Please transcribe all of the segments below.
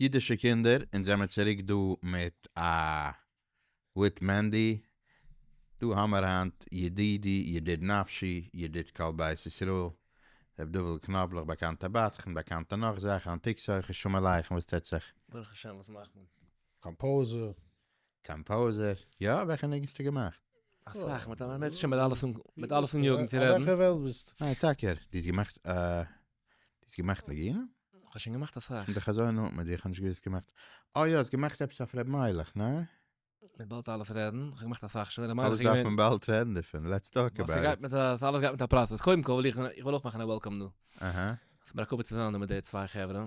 אידישע קינדער, אונז זעמער צוריק דא מיט א וויט מענדי, דא האמער היינט ידידי ידיד נפשי ידיד כל בית ישראל ר' דובל קנאבלעך באקאנטע בדחן באקאנטע נאך זאכן אנטיקס הויכע שלום עליכם וואס טוט זיך? ברוך השם וואס מאכט מען? קאמפאוזער. קאמפאוזער, יא וועלכע ניגון האסטו געמאכט? אסאך, מיט א מענטשן מיט אלעס און יאגן צו רעדן. אויף וועלכע וועלט ביסטו? ניין טאקע, דו האסט געמאכט א האסט געמאכט נגינה? כ'האב שוין געמאכט אסאך. און די חזון נאנט מיט דיר, כ'האב נישט געוואוסט האסט געמאכט. אה יא, האסט געמאכט עפעס אויף ר' מיילעך, ניין? מען באלד אלעס רעדן, כ'האב געמאכט אסאך שוין, ר' מיילעך איז געווען. אלעס דארף מען באלד רעדן דערפון, לעטס טאלק אבאוט איט. ווייל ס'גייט מיט א, ס'אלעס גייט מיט א פראסעס, קודם כל וויל איך, איך וויל אויך מאכן א וועלקאם דא. אהא. ס'מיר א כבוד צו זיין דא מיט די צוויי חברה.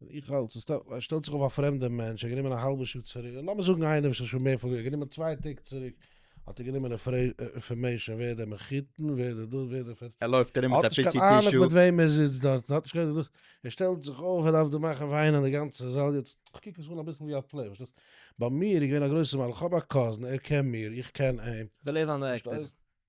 און איך האלט, ס'שטעלט שטעלט זיך אויף א פרעמדער מענטש, ער גענומען א האלבע שעה צוריק, לאמיר זאגן איינער וואס איז שוין מער פארגע, גענומען צוויי טעג צוריק, האט ער גענומען אינפארמעישאן ווער דער מחותן, ווער דער דאס, ווער דער פ. ער לויפט ארום מיט א פיצי טישו. האט נישט קיין אהנונג מיט וועם ער זיצט דארט, האט נישט קיין דאס, ער שטעלט זיך אויף, ער דארף דא מאכן וויינען די גאנצע זאל, יעצט קוק עס אן אביסל ווי א פלעי, פארשטייסט? ביי מיר איז געווען א גרויסע מעלה, איך האב א קאזין, ער קען מיר, איך קען אים. וויל ער זיין דירעקטאר.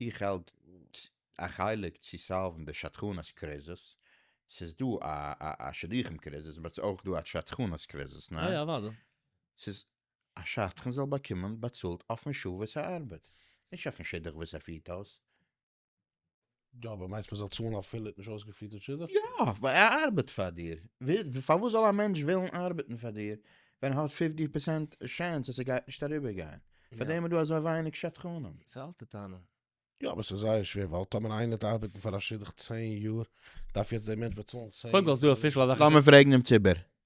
איך האלט א חלק צו סאלוון די שדכנות קריזיס, ס'איז דא א שידוכים קריזיס באט ס'איז אויך דא א שדכנות קריזיס, ניין? יא אוודאי. ס'איז א שדכן זאל באקומען באצאלט אויפן שעה וואס ער ארבעט, נישט אויפן שידוך וואס ער פירט אויס. יא אבער מיינסט מען זאל צאלן אפילו ער האט נישט אויסגעפירט די שידוך? יא! ווייל ער ארבעט פאר דיר. פארוואס זאל א מענטש ווילן ארבעטן פאר דיר ווען ער האט פֿופֿציק פראצענט טשענס אז ער גייט נישט אריבער גיין? פאר דעם איז דא אזוי ווייניג שדכנים. ס'איז א אלטע טענה. יא אבער ס'איז זייער שווער ווייל טאמער איינער וועט ארבעטן פאר א שידוך צען יאר דארף יעצט דער מענטש באצאלן צען יאר. קודם כל איז דא אפישעל אזאך. לאמיר פרעגן דעם ציבור.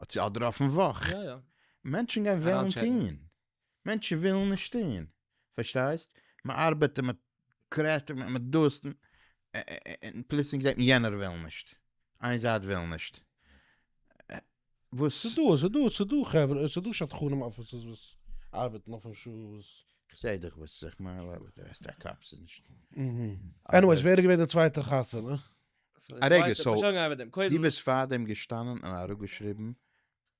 האט זי אדער אויפן וואך? יא יא. מענטשן גייען וועלן טוהן, מענטשן ווילן נישט טוהן, פארשטייסט? מען ארבעט און מען קרעשט און מען דאס, און פלוצלינג זעהט מען יענער וויל נישט, איין זייט וויל נישט, וואס? ס'איז דא, ס'איז דא, ס'איז דא חברה, ס'איז דא שדכנים אפיסעס וואס ארבעטן אויפן שעה וואס. כ'זעה דיך וואס איך מיין, אבער די רעסט א קאפ ס'איז נישט. עניוועיס ווער איז געווען די צווייטע חתונה? א רגע, סאו דו ביסט פאר דעם געשטאנען און אראפגעשריבן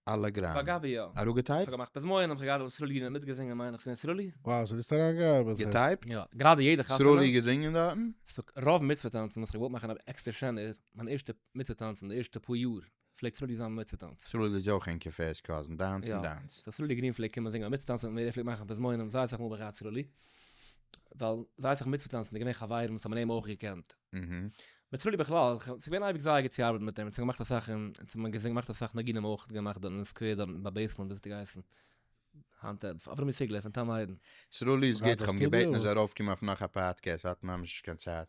אלע גראם? באגאב יא. אראפגעטייפט? כ'האב געמאכט פזמון, און כ'האב געהאט דעם סרולי גענער מיטגעזינגען מיין איך ס'געווען סרולי? וואו, ס'האט עס אריינגעארבעט? געטייפט? יא. גראדע יעדע חתונה. סרולי געזינגען דארטן? ס'רוב מצוה טאנצן וואס כ'וואלט מאכן אבער עקסטער שענער, מיין ערשטע מצוה טאנצן די ערשטע פאר יאר. פלעגט סרולי זיין מיט צוטאנץ? סרולי איז אויך אין קפה אשכול און דיינס און דיינס. יא, סרולי גרין פלעגט קומען זינגען מיט צוטאנץ מיט מיר, ער פלעגט מאכן פזמונים זייער אסאך מאל ביי ר' סרולי, ווייל זייער אסאך מיטצוטאנצנדע געווען חברים וואס האבן אים אויך געקענט. מיט סרולי בכלל, ס'איז געווען אייביג זייער גוט צו ארבעטן מיט אים, אונז האבן געמאכט אסאך און אונז האבן געזינגען, געמאכט אסאך ניגונים אויך געמאכט דארט אין סקווער דארט ביי בעיסמענט וויאזוי האט געהייסן היינט אברהם איז ציגלער פון טעם היידן. סרולי איז גוט, כ'האב אים געבעטן ער זאל ארויפקומען אויף נאך א פאדקעסט, ער האט ממש נישט קיין צייט.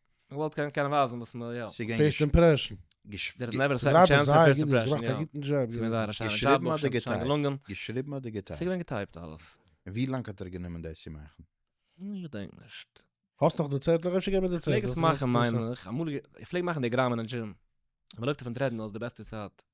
איך וואלט געוואלט קענען ווייזן וואס מען יא. ס'איז געווען פערסט געש אימפרעשן. געש דער איז נעווער א סעקאנד טשענס און פערסט אימפרעשן יא. ס'איז געווען זייער א שיינע דזשאב געשריבן אדער אויך שיין געטייפט? געלונגען. געשריבן אדער ס'איז געטייפט? געווען געטייפט אלעס. און ווי לאנג האט ער גענומען דאס צו מאכן? איך געדענק נישט. האסט נאך די צעטלעך? אפשר גיב מיר די איך פלעג צעטלעך. עס מאכן מיין איך. אמאל איך פלעג מאכן די גראמען אין דזשים. מען לויפט אויפן טרעדמיל איז די בעסטע צייט.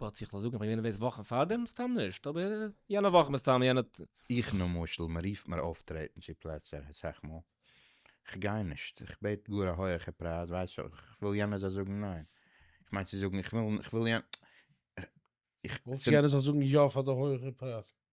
וואלט איך זאגן פאר יענעם וועסט וואכן פארדעם סתם נישט אבער יענע וואך מסתם יענע. איך למשל מ'רופט מיר אויפטרעטן צו פלעצער סאך מאל כ'גיי נישט איך בעט גאר א הויעכע פרייז ווייסט כ'וויל יענער זאל זאגן ניין כ'מיין צו זאגן כ'וויל כ'וויל יענער איך. ווילסט יענער זאל זאגן יא פאר די הויעכע פרייז?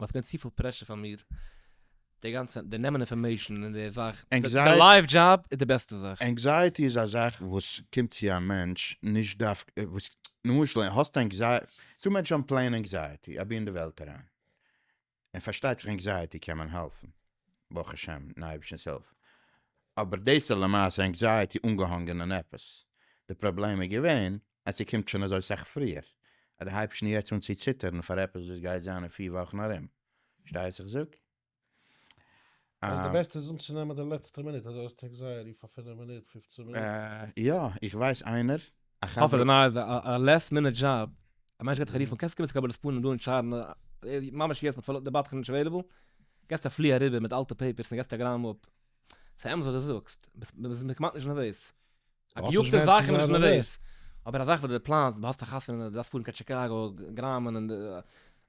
מ'האט געווען צופיל פרעשור פאר מיר, די גאנצע די נעמען אינפארמעישן און די זאך, די לייוו דזשאב איז די בעסטע זאך. ענקזייעטי איז א זאך וואס קומט צו א מענטש, נישט דווקא וואס, למשל האסט ענקזייעטי, ס'דא מענטשן האבן פלעין ענקזייעטי אבי אין די וועלט אריין, און פארשטייט זיך ענקזייעטי קען מען העלפן, ברוך השם מיטן אייבערשטנ'ס הילף, אבער דאס איז למעשה ענקזייעטי אנגעהאנגען אין עפעס, די פראבלעם איז געווען אז ס'קומט שוין אזוי סאך פריער, אז דו הייבסט שוין יעצט אן צו ציטערן פאר עפעס וואס גייט זיין אין פיר וואכן ארום. פארשטייסט וואס איך זאג? אז די בעסטע איז אנצונעמען די לעצטע מינוט, אזוי אז טעג זייער איר פאר פינף מינוט, פופצן מינוט. יא, איך ווייס איינער, א חבר. האפענטליך ניי, איז א לעסט מינוט דזשאב, א מענטש געט דיך א רוף אן, קענסט קומען צו קבלת פנים דא אין טשארנא, ממש יעצט מ'האט די בדחן נישט עוועליבעל, געסט א פלי אריבער מיט אלטע פעיפערס און געסט טעלעגראם אפ. ס'אמת וואס דו זאגסט, מ'איז כמעט נישט נערוועז. א געיאגטע זאך איז נישט נערוועז. אבער א זאך וואס דו פלאנסט, האסט א חתונה, דו דארפסט פארן קיין טשיקאגא, גראמען און די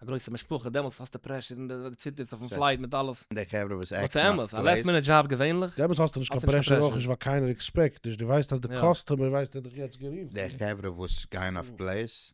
א גרויסע משפחה, דעמאלטס האסטו פרעשור און די ציטערסט אויפן פלייט מיט אלעס. די חברה וואס עקטן אויף פלעיס. נאט סו מאטש. א לאסט מינוט דזשאב געווענליך. דעמאלטס האסטו נישט קיין פרעשור אויך נישט ווייל קיינער עקספעקט נישט, דו ווייסט אז די קאסטומער ווייסט ער האט דיך יעצט גערופן. די חברה וואס גייען אויף פלעיס.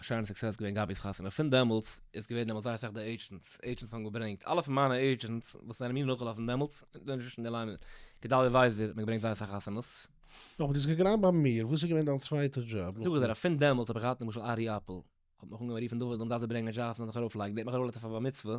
א שיינע סוקסעס געווען גאבי'ס חתונה, פון דעמאלטס איז געווען דעמאלטס זייער אסאך די עידזשענטס, עידזשענטס האבן געברענגט, אלע פון מיינע עידזשענטס וואס זענען מיר נאכגעלאפן דעמאלטס, זענען נישט אין די ליין מער, גדליה ווייזער האט מיר געברענגט זייער אסאך חתונות. אבער דו האסט געגרייט ביי מיר, וואס איז געווען דיין צווייטע דזשאב? זאג איך דיר אז פון דעמאלטס האב איך געהאט למשל ארי אפל, האט מיך אנגעהויבן רופן דוד, דו דארפסט דיר ברענגען זשאבס און זיך ארויפלייגן, דער האט מיך ארויפגעלייגט אויף א בר מצוה,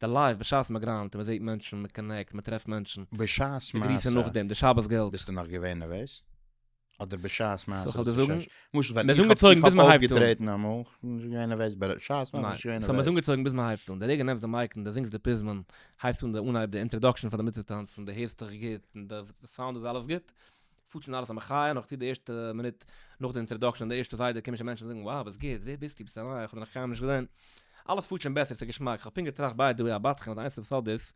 די לייף בשעת מען גריינד און מען זעט מענטשן, מען קאנעקט, מען טרעפט מענטשן. בשעת די גריסן מעשה. נאכדעם, די שבת געלט. ביסטו נאך געווען נערוועז? אדער בשעת מעשה ס'איז נישט אזוי ש. למשל ווען איך האב איך האב אויפגעטרעטן אמאל, כ'בין נישט געווען נערוועז, ב ה בשעת מעשה בין איך נישט געווען נערוועז. סאו מ'איז אנגעצויגן ביז מען הייבט אן. די רגע נעמסט די מייק און די זינגסט די פזמון, הייבסט אן די אנהייב די אינטראדאקשן פאר די מצוה טאנץ און די הערסט דיך גוט און די סאונד איז אלעס גוט, פארט שוין אלעס א מחיה, נאך צו די ערשטע מינוט נאך די אינטראדאקשען, די ערשטע זיידע קומען שוין מענטשן זאגן wow וואס גוט, ווער ביסטו, ביסט אריין, כ'האב דיך נאך קיינמאל נישט געזען, אלעס פארט שוין בעסער, ס'איז געשמאק, כ'האב פונקט געטראכט ביי די וועי א בת חן האט די איינציגסטע סוד איז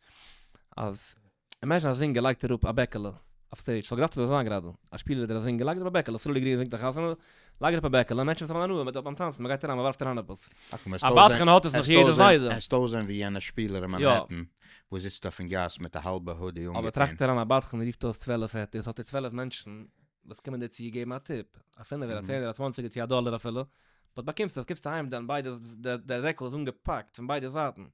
אז אימעזשין א זינגער לייגט אראפ א בעקעלע אויף סטעידזש, ס'וואלט געדארפט אזוי זיין גראדע, א שפילער אדער א זינגער לייגט אראפ א בעקעלע, סרולי גרין זינגט א חתונה, לייג אראפ א בעקעלע, מענטשן וואס האבן הנאה מיט ביים טאנצן, מען גייט אריין מען ווארפט אריין עפעס. א בדחן האט עס נאך יעדע זיידע. העסט אויסזען ווי יענע שפילער אין מאנהעטן וואס זיצט אויפן גאס מיט א האלבע הודי אנגעטון. אבער טראכט אריין א בדחן רופט אויס צוועלף העטערס האט ער צוועלף מענטשן וואס קומען דיר צו געבן א טיפ, א פינעווער א צענער א צוואנציגער צו א דאלער אפילו, וואס באקומסטו וואס קומסטו אהיים דען ביידע דער דער רעקל איז אנגעפאקט פון ביידע זייטן.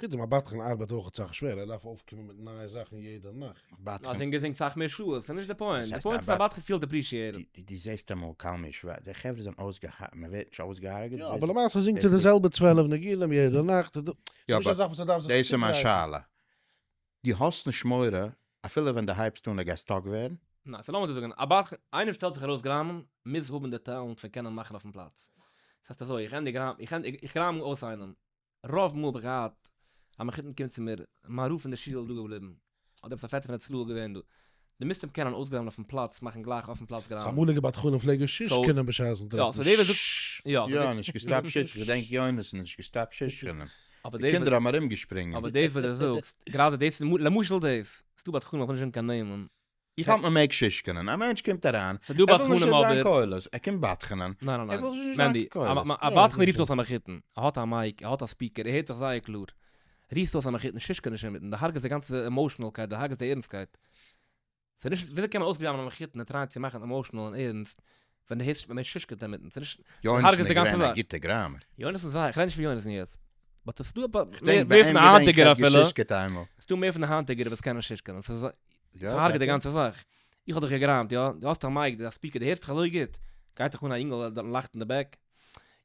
חוץ דעם א בת חן ארבעט אויך אסאך שווערער, ער דארף אויפקומען מיט נייע זאכן יעדע נאכט. א בת א חן. זינגער זינגט סאך מער שעות, ס'נישט די פוינט, די פוינט איז א בת חן פילט עפרישיעטעד. די זעסט אמאל קל מיש ווען די חברה זענען אויסגעהארגעט, מען ווערט נישט אויסגעהארגעט? יא אבער למעשה זינגט ער די זעלבע צוועלף ניגונים יעדע נאכט, ס'איז נישט א זאך וואס ער דארף זיך צוגרייטן. דאס איז מיין שאלה, דו האסט נישט מורא אפילו ווען דו הייבסט אן ער גייט סטאק ווערן? ניין, סאו לאמיר דאס זאגן, א בת חן, איינער שטעלט זיך ארויס גראמען, מוז האבן די טעלענט פון קענען מאכן אויפן פלאץ. ס'הייסט אזוי, איך ענדיג גראמען, איך גראם אויס איינעם, רוב מאל האב איך געהאט א מחותן קומט צו מיר, מיין רב פון די שול דא געבליבן, אדער עפעס א פעטער פון הצלה געווען דא, די מוסטערן קענען אויסגראבן אויפן פלאץ, מאכן גלייך אויפן פלאץ גראם. סאו אמאליגע בדחנים פלעגן שיש קענען בשעת'ן טרעפן ש. יא, נישט געסטאפט שיש, איך געדענק יונתן נישט געסטאפט שיש קענען, די קינדער האבן ארום געשפרינגען. אבער דאס וואס די זאגסט, גראדע דאס, למשל דאס, ס'דא בדחנים איך וויל נישט זאגן קיין נעמען, איך האלט מען מעג שישקענען, א מענטש קומט אריין, ער וויל נישט נישט זיין קולות, ער קומט בדחנ'ען, ער וויל זיך נישט זיין קולות. א בדחן רופט אויס א מחותן, ער האט א מייק, ער האט א ספיקער, ער הערט זיך זייער קלאר, רופסט אויס א מחותן, שישקע נישט אינמיטן, די הרג'סט די גאנצע עמאושענעלקייט, די הרג'סט די ערנסטקייט. ס'נישט, וויאזוי קען מען אויסגלייבן א מחותן, ער טרייט צו מאכן עמאושענעל און ערנסט, ווען די הערסט ווען מען שושקעט דעם מיטן צונישט יוינעסן איז געווען א גוטע גראמער. יוינעסן זיי כ'רעד נישט פון יוינעסן יעצט. באט עס דא אפאר מער פון די היינטיגער אפילו. ס'דא מער פון די היינטיגער וואס קענען שושקענען. ס'הארגעט די גאנצע זאך. איך האב דיך געגראמט יא? דו האסט א מייק, א ספיקער, דו הערסט דיך אזוי גוט? גייט דיך אן א יונגעל דארטן לייכט אין די בעק?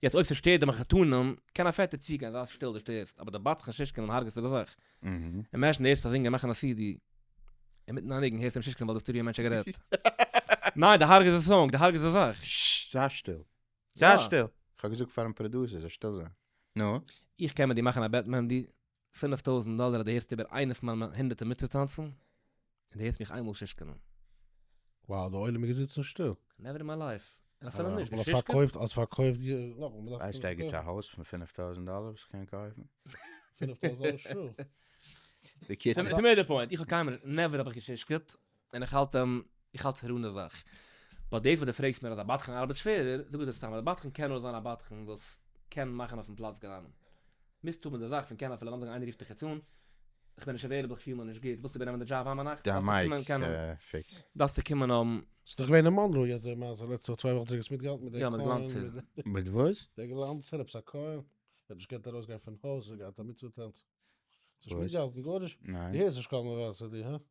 יעצט אויב ס'שטערט די מחותנים, קען א פעטער צוגיין זיי שטיל דו שטערסט, אבער די בדחן שושקענען הארגעסטו די זאך. און ערשט הערסטו א זינגער מאכן א סידי, אינמיטן א ניגון הערסטו אים שישקעלן ווייל די סטודיאו מענטש האט גערעדט. ניין, די הרג'ס די סאנג, די הרג'ס די זאך. זיי שטיל. זיי שטיל. כ'האב געזאגט פארן פראדוסער זאל שטיל זיין. נו? איך קען מיט דיר מאכן א בעט מענדי, פינף טויזנט דאלער אז דו הערסט איבער איינע פון מיינע הונדערטער מיטצוטאנצן. און די הערסט מיך איינמאל שישקענען. וואו די עולם איז געזיצן שטיל. נעווער אין מיי לייף. און אפילו נישט די שישקע. האסט פארקויפט די. ווייסט ערגעץ א הויז פון פֿינף טויזנט דאלער וואס כ'קען קויפן? פֿינף טויזנט דאלער שול. בקיצור. צו מער די פוינט, איך האב קיינמאל, נעווער האב איך געשישקעט, און איך האלט אים, איך האלט ס'איז ראנע זאך. באט דאס וואס די פרעגסט מיר אז א בדחן ארבעט שווערער, זאג איך דיר סתם אז א בדחן קען נאר זיין א בדחן וואס קען מאכן אויפן פלאץ גראמען. מיסטו מיט די זאך פון קענען אפילו לאמיר זאגן איינער רופט דיך יעצט אן, איך בין נישט עוועילעבל כ'פיל מיך נישט גוט, ווילסטו איבערנעמען די דזשאב היינט ביינאכט? דארפסטו קומען קענען, דארפסטו קומען אום. ס'איז דאך געווען אין מאנרא יעצט די מעשה לעצטע וואך צוויי וואכן צוריק האסט מיטגעהאלטן מיט דער כהן? יא מיט גלאנצער. מיט וואס? דער גלאנצער עפעס א כהן האט נישט געקענט ארויסגיין פון הויז, ער האט געהאט א מצוה טאנץ. האסט נישט מיטגעהאלטן גארנישט? די הערסט נישט קול מבשר די הא?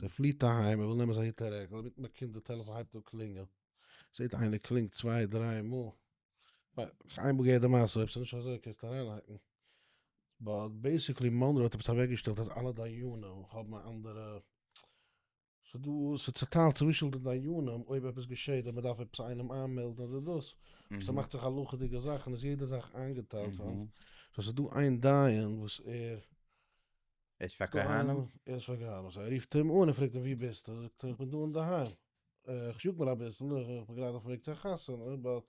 זי פליט אהיים, ער וויל נעמען זיין היט און רעקל, אינמיטן באקומט די טעלעפאן הייבט אן קלינגען, זעט איינער קלינגט צוויי דריי מאל, ניין, איינמאל געהערט די מעשה, אויב ס'נישט אזוי קענסטו אריינהאקן, באט בעיסיקלי מאנרא האט עפעס אוועקגעשטעלט אז אלע דיינים האבן א אנדערע, ס'דא, ס'צוטיילט צווישן די דיינים אויב עפעס געשעט אויב מ'דארף עפעס איינעם איינמעלדן אדער דאס, ס'מאכט זיך הלכה'דיגע זאכן איז יעדע זאך איינגעטיילט, סאו ס'דא איין דיין וואס ער ער איז פאר כהנים? ער איז פאר כהנים, סאו ער רופט אים אן און פרעגט אים וואו ביסטו, זאגט ער איך בין דא אינדערהיים, איך יאג מיר אביסל, איך בין גראד אויפן וועג צו א חתונה, באט,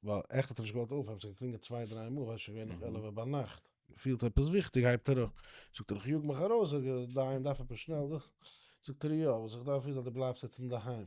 ווייל עכט האט ער נישט געוואלט אויפהייבן, ס'האט געקלינגען צוויי דריי מאל, שוין געווען נאך עלעווע ביינאכט, פילט עפעס וויכטיג הייבט ער אויף, זאגט ער איך יאג מיך ארויס, זאג איך דיין דארף עפעס שנעל, זאגט ער יא, וואס איך דארף איז אז דו בלייבסט יעצט אינדערהיים,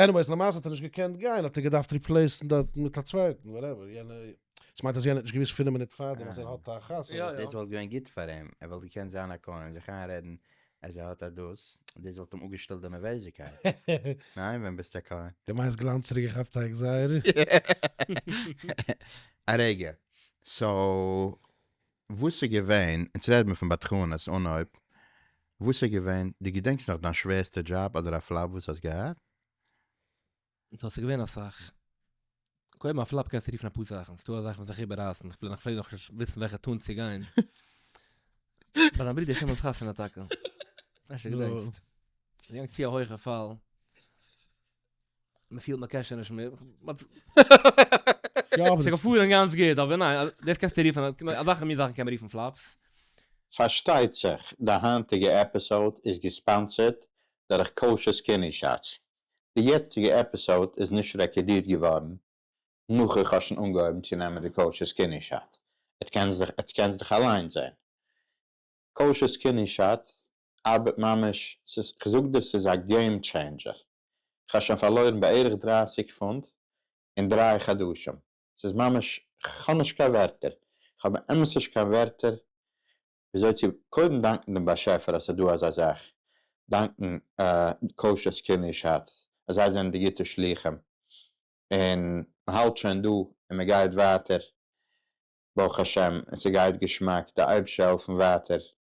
עניוועיס למעשה האט ער נישט געקענט גיין האט ער געדארפט ריפלעיסן דארטן מיט א צווייטן וואטעווער יענער דאס מיינט אז יענער האט נישט געוויסט פינעף מינוט פארדעם אז ער האט א חתונה. יא, יא. דאס וואלט געווען גוט פאר אים, ער וואלט געקענט זיין א קונה און זיך איינרעדן אז ער האט א דאס, דאס וואלט אים אפגעשטילט די נערוועזיקייט, ניין ווען ביסט א קונה? די מיינסט גלאנץ צוריק געכאפט טייג זייער? א רגע, סאו וואס איז געווען, אונז רעד מיר פון בדחנות, אנהויב, וואס איז געווען, דו געדענקסט נאך דיין שווערסטע דזשאב אדער א פלאפ וואס האסט געהאט? ס'האט זיך געווען אסאך. קודם א פלאפ קענסטו רופן אפאר זאכן, ס'דא אזאלכע וואס זיך איבעררייסן, כ'פלעג נאך פלעג נאך נישט וויסן וועלכע טאון צו גיין. ביי דיין ברודער שמעון'ס חתונה טאקע. כ'מיין שוין געדענקסט. ס'איז געגאנגען צו א הויכע פאל. מען פילט מען קען שוין נישט מער, ס'איז געפארן גאנץ גוט, אבער ניין, דאס קענסטו רופן, אזעלכע מין זאכן קען מען רופן פלאפס. פארשטייט זיך די היינטיגע עפיסאוד איז געספאנסערט דורך קאושער סקינער שאטס. די יעצטיגע עפיסאוד איז נישט רעקארדירט געווארן נאך איך האב שוין אנגעהויבן צו נעמען די קאושער סקינער שאט. עטס קענטס דיך אליינס זעהן. קאושער סקינער שאט ארבעט ממש, ס'איז, כ'זאג דיר ס'איז א געים טשעינדזשער, כ'האב שוין פארלוירן בערך דרײַסיק פונט אין דריי חדשים, ס'איז ממש, כ'האב נישט קיין ווערטער, כ'האב באמת נישט קיין ווערטער וויאזוי צו קודם דאנקן דעם באשעפער אז ס'דא אזא זאך, דאנקן קאושער זקני שץ אז זיי זענען די גוטע שלוחים, און מ'האלט שוין דא און מ'גייט ווייטער ברוך השם און ס'גייט געשמאק, די אייבערשטער העלפן ווייטער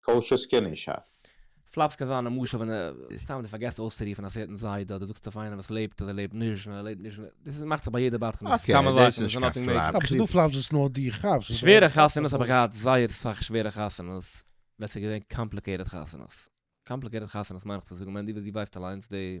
כל שזקן איש האט. פלאפס קען זיין א משל ווען סתם די פארגעסט אויסצורופן א סערטען זיידע אדער זאגסט אויף איינעם וואס לעבט אז ער לעבט נישט און ער לעבט נישט און דאס מאכט זיך ביי יעדע בת חן אקעי דאס איז נישט קיין פלאפס. אבער ס'דא פלאפס וואס נאר דו כאפסט. שווערע חתונות האב איך געהאט זייער סאך שווערע חתונות ווען ס'איז געווען קאמפליקעיטעד חתונות קאמפליקעיטעד חתונות מיין איך צו זאגן מענדי וואס דו ווייסט אליינס די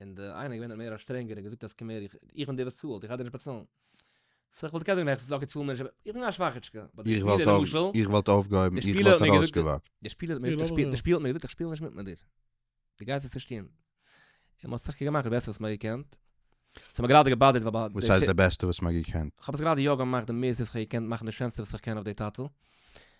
און די איינער געווען מער א שטרענגער און געזאגט אז קום הער איך איך בין דער וואס צאלט איך גיי דיר נישט באצאלן. סא איך וואלט געקענט זאגן העכסטענס אקעי צאל מיר נישט אבער איך בין א שוואכעטשקע. באט די שפילער למשל. איך וואלט אויפגעהויבן איך וואלט ארויסגעוואקט. די שפילער האט מיר געזאגט איך שפיל האט מיר געזאגט איך שפיל נישט מיט מיט דיר. די גייסט עס נישט טון. און מען האט סך הכל געמאכט די בעסטע וואס מען האט געקענט. ס'האט מיר גראדע געבאדערט ווייל ביי. וואס הייסט די בעסטע וואס מען האט געקענט? כ'האב עס גראדע יא געמאכט די מערסטע וואס כ'האב געקענט מאכן די שענסטע וואס איך קען אויף די טאטעל.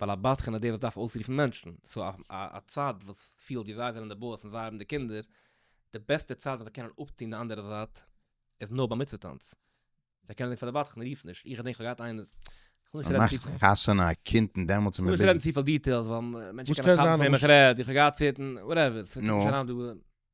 ווייל א בדחן איז דער וואס דארף אויסרופן מענטשן, סאו א צד וואס פילט ווי זיי זענען די באס און זיי האבן די קינדער, די בעסטע צד וואס זיי קענען אפטון די אנדערע זייט איז נאר ביי מצוה טאנץ, זיי קענען זאגן פאר די בדחן רוף נישט, איך געדענק איך האב געהאט איינער, כ'וויל נישט רעדן צופיל. מ'מאכט חתונה א קינד און דעמאלטס איז מען ביזי. כ'וויל נישט רעדן צופיל דיטעילס ווייל מענטשן קענען כאפן פון וועם איך רעד, איך האב געהאט צעטן, וואטעווער, ס'קומט נישט אריין דא.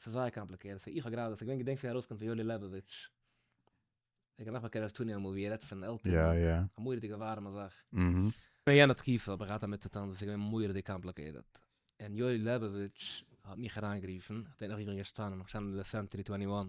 ס'איז זייער קאמפליקערט, סאו איך האב גראדע, ס'איז געווען געדענק ס'גייט ארויסקומען פון יואלי לעבאוויטש, איך געדאכט מ'קען אויף טוני אמאל ווי ער רעדט פון עלטערן, יא יא. א מורא'דיגע ווארעמע זאך. אהמ. אין יענע תקופה האב איך געהאט דערמיט צוטון וואס איז געווען מורא'דיג קאמפליקערט, און יואלי לעבאוויטש האט מיך אריינגערופן, כ'דענק נאך ווי איך בין געשטאנען, איך בין געשטאנען אין די סענטערי טווענטי וואן,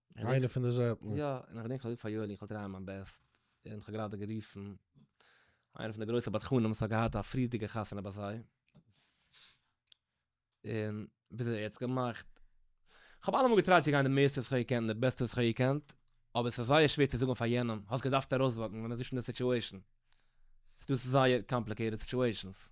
איינע פון די זעלטנע. יא, און איך געדענק איך האב געזאגט פאר יואלי איך וועל טרייען מיין בעסט, און איך האב גראדע גערופן איינע פון די גרויסע בדחנים וואס האט געהאט א פריערדיגע חתונה ביי זיי, און ביז ער האט עס געמאכט, כ'האב אלעמאל געטרייט צו גיין די מערסטע וואס איך האב געקענט און די בעסטע וואס איך האב געקענט, אבער עס איז זייער שווער צו זאגן פאר יענעם, האסט געדארפט ארויסוואקן ווען מען איז נישט אין די סיטועשאן, ס'איז דא זייער קאמפליקעיטעד סיטועשאנס.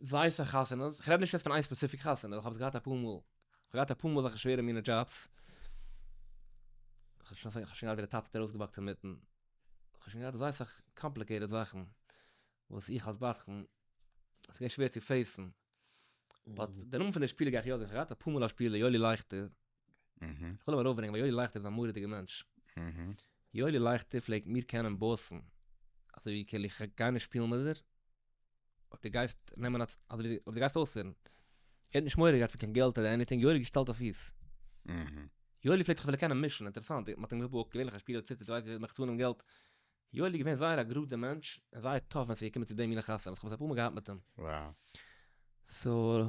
ווייסע חתונות, כ'רעד נישט יעצט פון איין ספעציפיק חתונה, איך האב עס געהאט אפאר מאל, כ'האב געהאט אפאר מאל אזעלכע שווערע מינע דזשאבס, כ'האב שוין געהאט ווי די טאטע האט ארויסגעבאקט אינמיטן, כ'האב שוין געהאט אזוי סאך קאמפליקעיטעד זאכן, וואס איך אלס בדחן, ס'איז געווען שווער צו פעיסן, באט די נאמען פון די שפילער גיי איך יא זאגן, כ'האב געהאט אפאר מאל א שפילער, יואלי לייכטער, כ'וויל אים ארויפברענגען ווייל יואלי לייכטער איז א מורא'דיגער מענטש. יואלי לייכטער פלעגט מיר קענען באסן, אזוי ווי כאילו איך גיי נישט שפילן מיט דיר, אויב דו גייסט נעמען א, אזוי ווי אויב דו גייסט אויסהערן. ער האט נישט מורא געהאט פון קיין געלט אדער עניטינג, יואלי האט געשטעלט אויף פיס. יואלי פלעגט זיך ווילן קענען מישן, אינטערעסאנט, מ'האט אים געבאקט, געווענליך א שפילער ציטערט, ווייסט ווי מ'מעקט אן דעם געלט. יואלי איז געווען זייער א גראדער מענטש, און זייער טאף ווען ס'איז געקומען צו די מינע חתונות, כ'האב עס אפאר מאל געהאט מיט אים. סאו.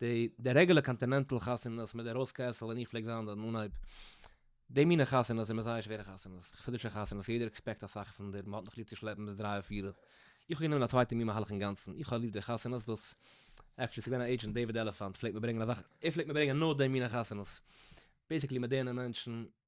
די די רעגולער קאנטינענטעל חתונות מיט די ראוז קעסל ווען איך פלעג זיין דארט אין אנהייב, די מינע חתונות זענען זייער שווערע חתונות, חסידישע חתונות, יעדער עקספעקט אסאך פון דיר, מ'האט נאך ליב צו שלעפן ביז דריי פיר, איך האב גענומען א צווייטע מין מהלך אינגאנצן, איך האב ליב די חתונות וואס, עקטשעלי ס'געווען א עידזשענט דעיוויד עלעפאנט פלעגט מיר ברענגען אזאך, ער פלעגט מיר ברענגען נאר די מינע חתונות, בעיסיקלי מיט די אינע מענטשן,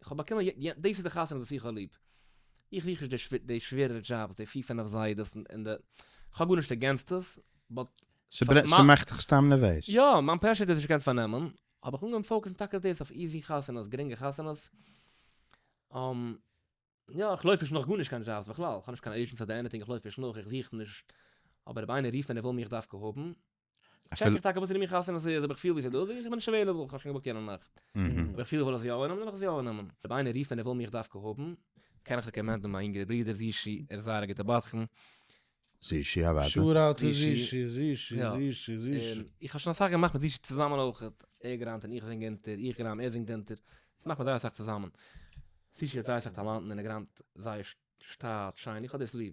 איך האב באקומען י י דאס איז די חתונה וואס איך האב ליב. איך זוך נישט די שווע די שווערערע דזשאבס, די פֿיר פֿינף זיידעס און די. כ'האב גארנישט אגענסט עס, באט. ס'ברע ס'מאכט דיך סתם נערוועז? יא, מיין פרעשור האט עס נישט געקענט פארנעמען, האב איך אנגעהויבן פאוקעסן טאקע דאס אויף איזי חתונות, גרינגע חתונות. אממ. יא, איך לויף נישט נאך גארנישט קיין דזשאבס בכלל, כ'האב נישט קיין עירדזשענסי אדער עניטינג, איך לויף נישט נאך, איך זוך נישט. אבער אויב איינער רופט און ער וויל מיך דווקא האבן. טשעק איך טאקע וואס איז אין מיכאל'ס און עשיות אויב איך פיל ווי ס'דא זאג איך איך בין נישט עוועילעבל איך האב שוין געבוקט יענע נאכט אויב איך פיל איך וויל עס יא אננעמען וועל איך עס יא אננעמען אויב איינער רופט און ער וויל מיך דווקא האבן קען איך רעקאמענדן מיין יונגערע ברודער זישי ער איז זייער א גוטע בדחן. זישי א וואטע? שאר אוט טו זישי, זישי, זישי, זישי. און איך האב שוין אסאך געמאכט מיט זישי צוזאמען אויכעט, ער גראמט און איך זינג אונטער, איך גראם ער זינגט אונטער, אונז מאכט מען זייער אסאך צוזאמען. זישי האט זייער אסאך טאלאנטן און ער גראמט זייער שטאט, שיין, איך האב דאס ליב.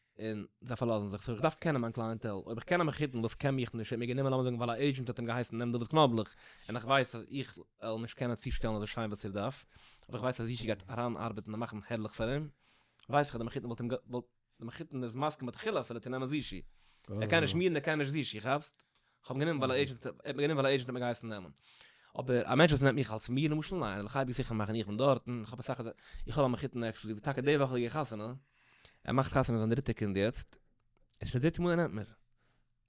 און זיי פארלאזן זיך, סאו איך דארף קענען מיין קלייענטעל, אויב איך קען א מחותן וואס קען מיך נישט, ער האט מיר גענומען לאמיר זאגן ווייל א עידזשענט האט אים געהייסן נעם דוד קנאבלעך, און איך ווייס אז איך וועל נישט קענען צושטעלן אזוי שיין וואס איר דארף, אבער איך ווייס אז ישי גייט אריינארבעטן און מאכן הערליך פאר אים, ווייס איך אז די מחותן וואלט אים גע. די מחותן איז מסכים מתחילה אפילו צו נעמען זשי, ער קען נישט מיר און ער קען נישט זשי, כאפסט? כ'האב גענומען ווייל א עידזשענט, ער האט מיר גענומען ווייל א עידזשענט האט מיר געהייסן נעמען. אבער א מענטש וואס נעמט מיך אלס מיר למשל, ניין, ער וועט חייב זיכער מאכן איך בין דארט, און כ'האב אסאך אזא, איך האב א מחותן עקטשעלי וואס טאקע די וואך האט ער געהאט חתונה, ער מאכט חתונה זיין דריטע קינד יעצט, עס איז שוין די דריטע מאל ער נעמט מיר.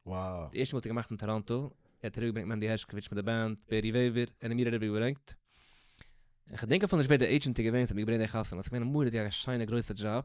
וואו. די ערשטע מאל האט ער געמאכט אין טאראנטא, ער האט אריבערגעברענגט מענדי הערשקאוויטש מיט די בענד, בערי וועבער, ער האט מיר אריבערגעברענגט, און כ'דענק אפילו נישט ווער די עידזשענט איז געווען וואס האט מיר געברענגט די חתונה, ס'איז געווען א מורא'דיגע שיינע גרויסע דזשאב.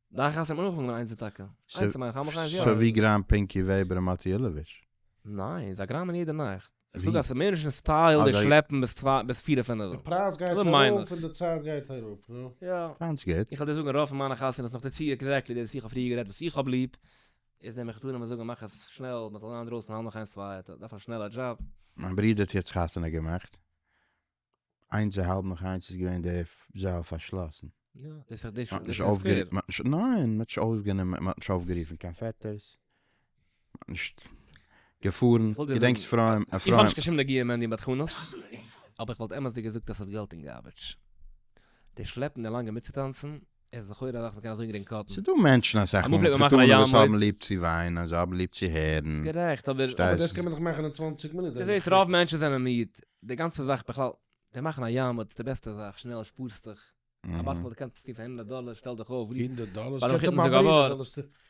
דאכט אז ס'מיר אויך אנגענומען איינס די טאקע. איינס מיין איך האב מיך איינס יא. סאו ווי גראם פינקי וועבער און מאטי אילאוויטש? ניין, זיי גראמען יעדע נאכט. איך זאג אז ס'איז מער נישט אין סטייל די שלעפן ביז צוויי ביז פיר און פינעווע. די פרייז גייט ארויף און די צייט גייט אראפ, נו. יא. גאנץ גוט. איך וועל דיר זאגן רוב פון מיינע חתונות נאך די צו עקזעקטלי דאס ווי איך האב פריער גערעדט וואס איך האב ליב, איז נעם איך דא נעם איך זאגן מאך עס שנעל מ'זאל זיין אינדרויסן האלב נאך איינס צוויי דארף א שנעלע דזשאב. מיין ברודער האט יעצט חתונה געמאכט. איינס א האלב נאך איינס איז געווען די זאל פארשלאסן. יא, דאס איז די שוין נישט אויפגעריפן. ניין, מ'האט נישט אויפגענומען, מ'האט נישט אויפגערופן קיין פעטערס. מ'האט נישט געפארן, געדענקסט אפרים? איך האב נישט קיין שום נגיעה מענדי בדחנות, אבער איך וואלט אמת'דיג געזאגט אז ס'איז געלט אין גארביטש. די שלעפן די לאנגע מיטצוטאנצן עס איז לכאורה א זאך מען קען אזוי גרינג קאטן. ס'איז דא מענטשן אסאך מאל וואס קטנ'ען וואס האבן ליב צו וויינען און זיי האבן ליב צו הערן. גערעכט אבער. אבער דאס קען מען דאך מאכן אין צוואַנציק מינוט. דו זעסט רוב מענטשן זענען מיד, די גאנצע זאך בכלל, זיי מאכן א יאמער, ס'איז די בעסטע זאך, שנעל שפארסטוך, א באטל וואטער קאנסטו פאר הונדערט דאלער, שטעל דיך אויף. הונדערט דאלער? ס'קען טאמאל ברענגען זאלעסטו.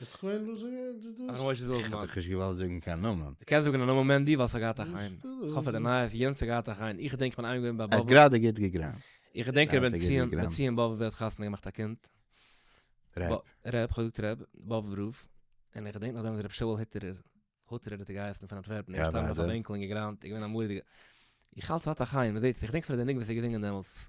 ביסט כווען דא זאגען די דאס? הרב משה זילברמן. כ'האב דיך נישט געוואלט זאגן קיין נאמען. די קענסט זאגען א נאמען מענדי ווייל ס'האט געהאט א חן. כ'האף אז די נייעס יענץ האט געהאט א חן. איך געדענק כ'בין איינמאל געווען ביי א באבע. ער האט גראדע גוט געגראמט. איך געדענק ר' בן ציון בן ציון באבוב ווער האט חתונה געמאכט א קינד. ר'. ר', כ'האב געזאגט ר', באבוב רב. און איך געדענק נאך דעם איז ר' שאול היטערער, הוטערער האט ער געהייסן, פון אנטווערפן, ער איז געשטאנען אויף א בענקל און געגראמט, איז געווען א מורא'דיגע. איך האלט ס'האט א חן, מ'זעט עס, איך געדענק אפילו די ניגון וואס ער האט געזינגען דעמאלטס.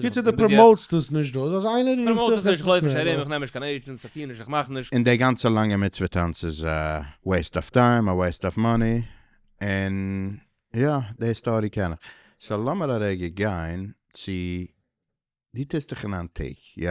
קיצור די פראמאוטסט עס נישט דא איז אז איינער רופט פראמאוט איך נישט איך לויף נישט ארום איך נעם נישט קיין עידשענטס איך טוה נישט איך מאך נישט. און די גאנצע לאנגע מצוה טאנץ איז א וועיסט אוו טיים א וועיסט אוו מאני און יא די היסטארי קען איך סאו לאמיר א רגע גיין צו די טוסט דיך אין איין טאג יא?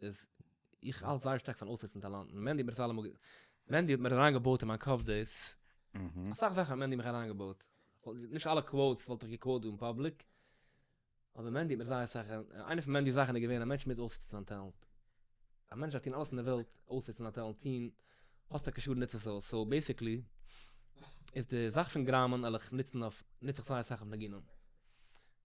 איז איך האלט זייער שטארק פון אויסזעצן טאלאנטן, מענדי האט מיר עס אלעמאל גע... מענדי האט מיר אריינגעבויט אין מיין קאפ דאס, אסאך זאכן האט מענדי מיך אריינגעבויט, נישט אלע קוואוטס וואלט איך געקוואוט דא אין פאבליק, אבער מענדי האט מיר זייער אסאך, איינע פון מענדי'ס זאכן איז געווען א מענטש מוז אויסזעצן זיין טעלענט, א מענטש דארף טון אלעס אין די וועלט אויסזעצן זיין טעלענט, טון, האסט טאקע שאדן נוץ עס אויס, סאו בעסיקלי איז די זאך פון גראמען על איך נוץ נוץ איך זייער אסאך אויף ניגונים.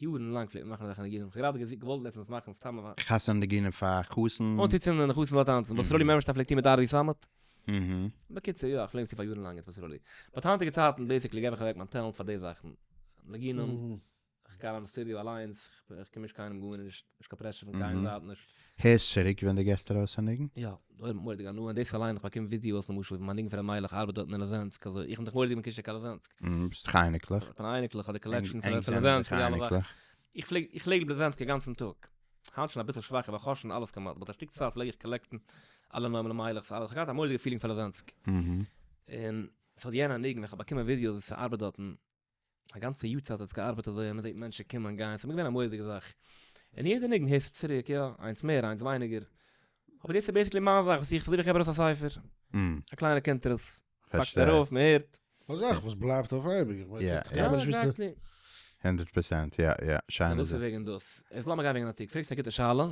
יארן לאנג פלעגט מען מאכן אזעלכע ניגונים, כ'האב גראדע געוואלט לעצטנס מאכן סתם א. חתונה ניגונים פאר חתן. אנצוצינדן און די חתן זאל טאנצן, וואס סרולי מערבעשטאם פלעגט טון מיט ארי סאמעט. בקיצור, יא, כ'פלען עס טון פאר יארן לאנג עטס פאר סרולי. בעת היינטיגע צייטן בעיסיקלי געב איך אוועק מיין טעלענט פאר די זאכן. ניגונים, כ'גיי אריין אין סטודיאו אליינס, כ'קום נישט קיינעם גארנישט, נישט קיין פרעשור פון קיין זייט נישט. הערסט צוריק ווען דו געסט ארויס א ניגון? יא. דאָ האָט מוראדיק הנאה, און דאָס אַליין, איך באַקום ווידעאָס, למשל, ווי מײַן ניגון פֿון ר' מיילעך אַרבעט דאָרטן אין ליזענסק, אַזוי, איך בין דאָך מוראדיק מקושר קיין ליזענסק. ביסט דאָך אייניקלעך. כ'בין אייניקלעך, אָט די קאָלעקשאָן פֿון ליזענסק, פֿון די אַלע זאַכן. איך פֿלעג, איך פֿלעג ליב ליזענסק אַ גאַנצן טאָג. הײַנט שוין אַ ביסל שוואַכער, ווײַל כ'האָר שוין אַלעס כּמעט, באַט אַ שטיק צײַט פֿלעג איך קאָלעקטן אַלע נאָמען, ר' מיילעכס, אַלעס. כ'האָב געהאַט אַ מוראדיקע פֿילינג פֿאַר ליזענסק. און ס'האָט יענער ניגון, ווען כ'האָב באַקומען ווידעאָס, ווי ס'אַרבעט דאָרטן, א גאנצע יאר צייט האט עס געארבעט אזוי אז מ'זעט מענטשן קומען גיין, ס'איז מיר געווען א מורא'דיגע זאך, און יעדע ניגון הערסטו צוריק, יא, איינס מער איינס ווייניגער, אבער דאס איז בעסיקלי מיין זאך וואס איך, ס'אזוי ווי איך געב ארויס א ספר, א קליינער קונטרס, מ'פאקט ארויף, מ'הערט. א זאך וואס בלייבט אויף אייביג, איך מיין איך גיי נישט וויסן. הונדערט פראצענט, יא יא, שיינע זאך. סאו דאס איז וועגן דאס. יעצט לאמיר גיין וועגן א תיק, פרעגסט א גוטע שאלה.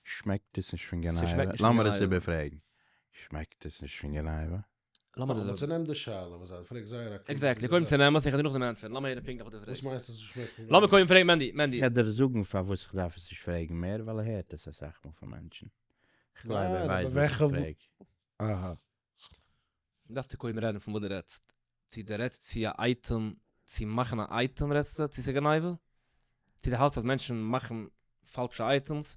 שמעקט עס נישט פון גניבה? לאמיר עס איבערפרעגן. שמעקט עס נישט פון גניבה? לאמיר דאס זאגן. נעם די שאלה וואס זיי פרעגט זייער א קלארע. עקזעקטלי, קודם צו נעמען עס, איך וועל דיר נאכדעם ענטפערן, לאמיר הערן פונקטליך וואס דו פרעגסט. וואס מיינסטו צו שמעקן ווען. לאמיר קודם פרעגן מענדי, מענדי. איך וועל דיר זאגן פארוואס איך דארף עס נישט פרעגן מער, ווייל ער הערט עס אסאך מאל פון מענטשן. איך גלייב ער ווייסט וואס איך פרעג. אהא. דארפסטו קודם רעדן פון וואס דו רעדסט. צו דו רעדסט צו א אייטעם, צו מאכן א אייטעם רעדסטו, צו ס'איז גניבה? צו די האלטסט אז מענטשן מאכן פאלשע אייטעמס,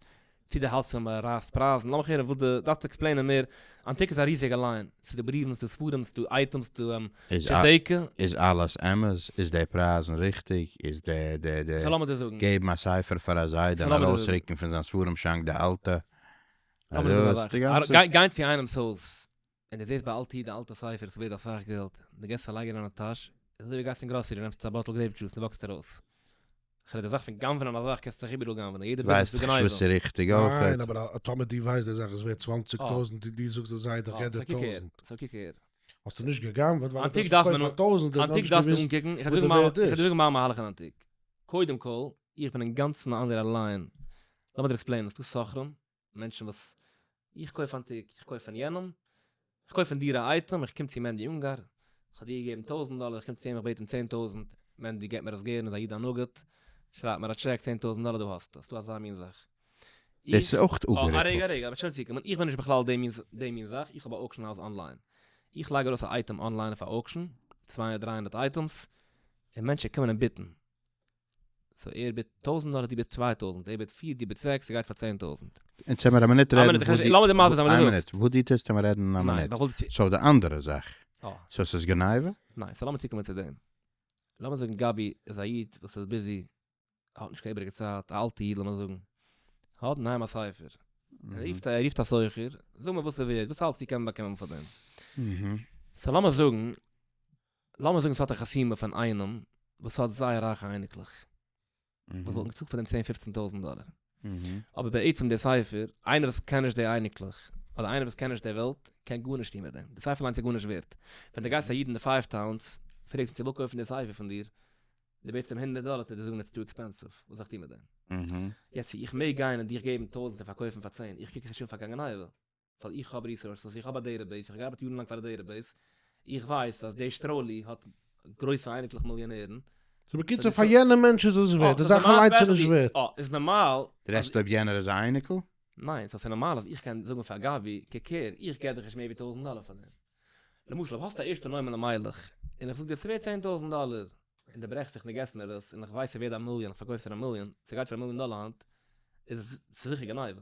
צו די האלטסט אז מען רייסט פרייזן, לאמיך הערן וואס די דארפסט עקספלעינען מער, אנטיק איז א ריזיגע ליין, ס'איז דא בריוון, ס'איז דא ספרים, ס'איז דא אייטעמס, ס'איז דא טשעטעיקע. איז אלעס אמת? איז די פרייזן ריכטיג? איז די די די. סא לאמיר דיר זאגן. געבן א ספר פאר א זיידע און ארויסרוקן פון זיין ספרים שאנק די אלטע. לאמיר דיר זאגן א זאך. גיין צו איינעמס הויז ווען דו זעסט ביי אל תהי' די אלטע ספר ס'ווערד אסאך געלט, דו געסט עס א לייג אין דיינע טאש, איז אזוי ווי גייסט אין גראסערי נעמסט א באטל גרעיפ דזשוס און וואקסט ארויס. כ'רעד די זאך פון גנב'נען א זאך קענסטו דיך איבעראל גנב'נען, יעדע ביזנעס איז גניבה. ניין אבער טאמער דו ווייסט די זאך איז ווערד צוואַנציק טויזענט און דו זאגסט די זייט דיך יעדע טויזענט. סאו קוק אהער. האסטו נישט גע'גנב'עט ווייל דו האסט געקויפט פאר טויזענט און האסט נישט געוויסט וואס די ווערד איז. איך וועל דיר זאגן מיין מהלך אין אנטיק. קודם כל, איך בין אינגאנצן א אנדערער ליין. לאמיר דיר עקספלעינען. ס'דא סוחרים מענטשן וואס איך קויף אנטיק, איך קויף פון יענעם, איך קויף פון דיר א אייטעם, איך קום צו מענדי אונגאר, איך האב דיר געגעבן טויזנט דאלער, איך קום צו אים איך בעט אים צען טויזנט, מענדי געבט מיר עס גערן, איז א איד א נגיד, שרייבט מיר א טשעק צען טויזנט דאלער דא האסטו, ס'דא אזא מין זאך. דאס איז אויך אפגערעדט. א רגע א רגע, כ'בין שוין צוקומען, איך בין נישט בכלל די מין די מין זאך, איך האב א אוקשען האוז אנליין, איך לייג ארויס א אייטעם אנליין אויף א אוקשען, צוויי און דריי הונדערט אייטעמס, און מענטשן קומען און ביטן, סאו ער בעט טויזענט דאלער דו בעסט צוויי טויזענט ער בעט פֿיר דו בעסט זעקס סגייט פאר צען טויזענט. עטס העמער א מינוט רעדן וואס די לאמיר די מעשה זיין וואס דו זאגסט. וואס די טוסט העמער רעדן א מינוט סאו די אנדערע זאך סאו סאיז גניבה? ניין סאו לאמיר צוקומען צו דעם לאמיר זאגן גבי איז א איד וואס איז ביזי האט נישט קיין איבריגע צייט א אלטע איד לאמיר זאגן האט אינהיים א ספר ער רופט ער רופט א סוחר זאג מיר וואס סאיז ווערט וואס האלסטו קען מען באקומען פאר דעם סאו לאמיר זאגן לאמיר זאגן ס'האט א חתימה פון איינעם וואס האט זייער רייכע אייניקלעך וואס וואלטן געצאלט פאר דעם צען פופצן טויזנט דאלער, אבער בעצם דער ספר, איינער וואס קען נישט די אייניקלעך, אדער איינער וואס קען נישט די וועלט, קען גארנישט טון מיט דעם, די ספר אליינס איז גארנישט ווערט. ווען דו גייסט צו א איד אין די פייוו טאונס, פרעגסט אים צו וויל קויפן די ספר פון דיר, און דו בעטסט אים הונדערט דאלער, וועט ער דיר זאגן איטס טו עקספענסיוו, וואס זאל איך טון מיט דעם? יעצט צו איך מעג גיין און דיך געבן טויזנט און פארקויפן פאר צען, איך קוק עס נישט אן פאר גאנגענהייווע. ווייל איך האב ריסארסעס, איך האב א דעטע בעיס, איך האב געארבעט יארן לאנג פאר א דעטע בעיס, איך ווייס אז דער שטראלי האט גרויסע אייניקלעך מיליאנערן. סאו בקיצור פאר יענע מענטש איז עס ווערט, די זאך אליינס איז נישט ווערט. אה, איז נארמאל. רעדסט אויב יענער איז א אייניקל? ניין, סאו ס'איז נארמאל אז איך קען זאגן פאר גבי, קוק הער, איך געב דיך נישט מער ווי טויזנט דאלער פאר דעם. למשל אויב האסט א ערשטע נאמען א מיילעך, און איך זאג דיר ס'ווערט צען טויזנט דאלער, און די ברעכסט זיך און די געבסט מיר עס, און איך ווייס ס'ווערד א מיליאן, איך פארקויף פאר א מיליאן, ס'גייט פאר א מיליאן דאלער היינט, איז עס ס'איז זיכער גניבה.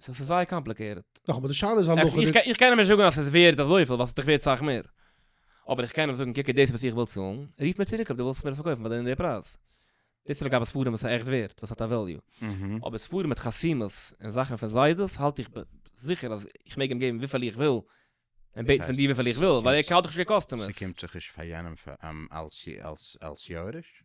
סאו ס'איז זייער קאמפליקעיטעד. נאך אבער די שאלה איז הלכה די. איך קען אים נישט זאגן אז ס'איז ווערד אזויפיל ווייל ס'איז דאך ווערד סאך מער. אבער איך קען אים זאגן קוק איז דאס וואס איך וויל צאלן, רוף מיר צוריק אויב דו ווילסט מיר עס פארקויפן פאר די און די פרייז. דאס איז לגבי ספרים וואס איז עכט ווערד, וואס האט א וועליו. אבער ספרים מיט חתימות און זאכן פון זיידעס האלט איך זיכער אז איך מעג אים געבן וויפיל איך וויל, און בעטן פון דיר וויפיל איך וויל, ווייל ער האט דאך שוין קיין קאסטומערס. ס'קומט זיך נישט פאר יענעם אלס יורש?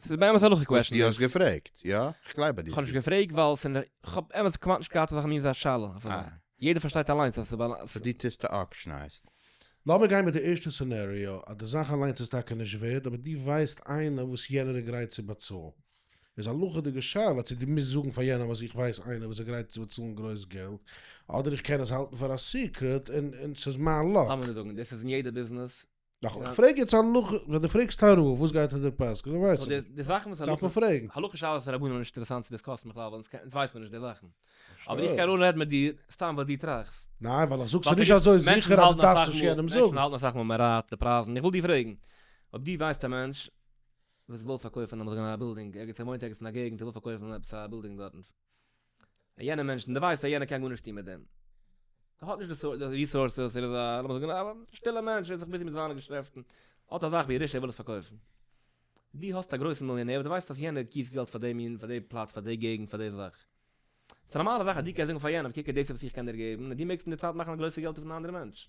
ס'איז באמת א הלכה קוועשען דאס. האסט נישט געפרעגט, יא? איך גלייב ביי דיר. כ'האב נישט געפרעגט ווייל ס'איז נישט, כ'האב אמת כמעט נישט געהאט אזא מין אזא שאלה אויף אזא. אה. יעדער פארשטייט אליינס אז ס'באל. סאו דו טוסט אוקשענייזן. לאמיר גיין מיט די ערשטע סינעריאו, אז די זאך אליינס איז טאקע נישט ווערד, אבער דו ווייסט איינער וואס יענער איז גרייט צו באצאלן. איז א הלכה'דיגע שאלה צו דו מוזט זאגן פאר יענעם אז איך ווייס איינער וואס איז גרייט צו באצאלן גרויס געלט, אדער איך קען עס האלטן פאר א סיקרעט און און ס'איז מיין לאק. לאמיר נישט זאגן, דאס איז אין יעדע ביזנעס, נאך איך פרעג יעצט א נאך ווען די פרעגסט טייערע וואס וואס גייט אונטער פסק דאן ווייס איך נישט די זאכן וואס דארף מען פרעגן הלכה שאלת הרבנים נישט אינטערעסאנט צו דיסקאסן בכלל ווייל אונז ווייסט מען נישט די זאכן אבער איך קען נאר רעדן מיט דיר סתם וואס דו טראכסט ניין ווייל איך זאגסט ס'איז נישט אזוי זיכער אז דו דארפסט נישט יענעם זאגן מענטשן האלטן אסאך מאל מען רייט די פרייזן איך וויל דיר פרעגן אויב דו ווייסט א מענטש וואס וויל פארקויפן נאמר זאגן א בילדינג ערגעץ ער וואוינט ערגעץ אין א געגנט ער וויל פארקויפן עפעס א בילדינג דארטן. א יענע מענטש און די ווייסט אז יענער קען גארנישט טון מיט דעם, ער האט נישט די ריסארסעס, ער איז א לאמיר זאגן א שטילע מענטש, ער איז זיך ביזי מיט זיינע געשעפטן, האט א זאך ווי ער איז ער וויל עס פארקויפן, דו האסט א גרויסן מיליאנער וואס דו ווייסט אז יענער גיסט געלט פאר די מין פאר די פלאץ פאר די געגנט פאר די זאך, ס'איז א נארמאלע זאך אז דו קענסט זאגן פאר יענעם קוק דאס איז וואס איך קען דיר געבן און דו מעגסט אין די צייט מאכן גרויסע געלט אויפן אנדערע מענטש.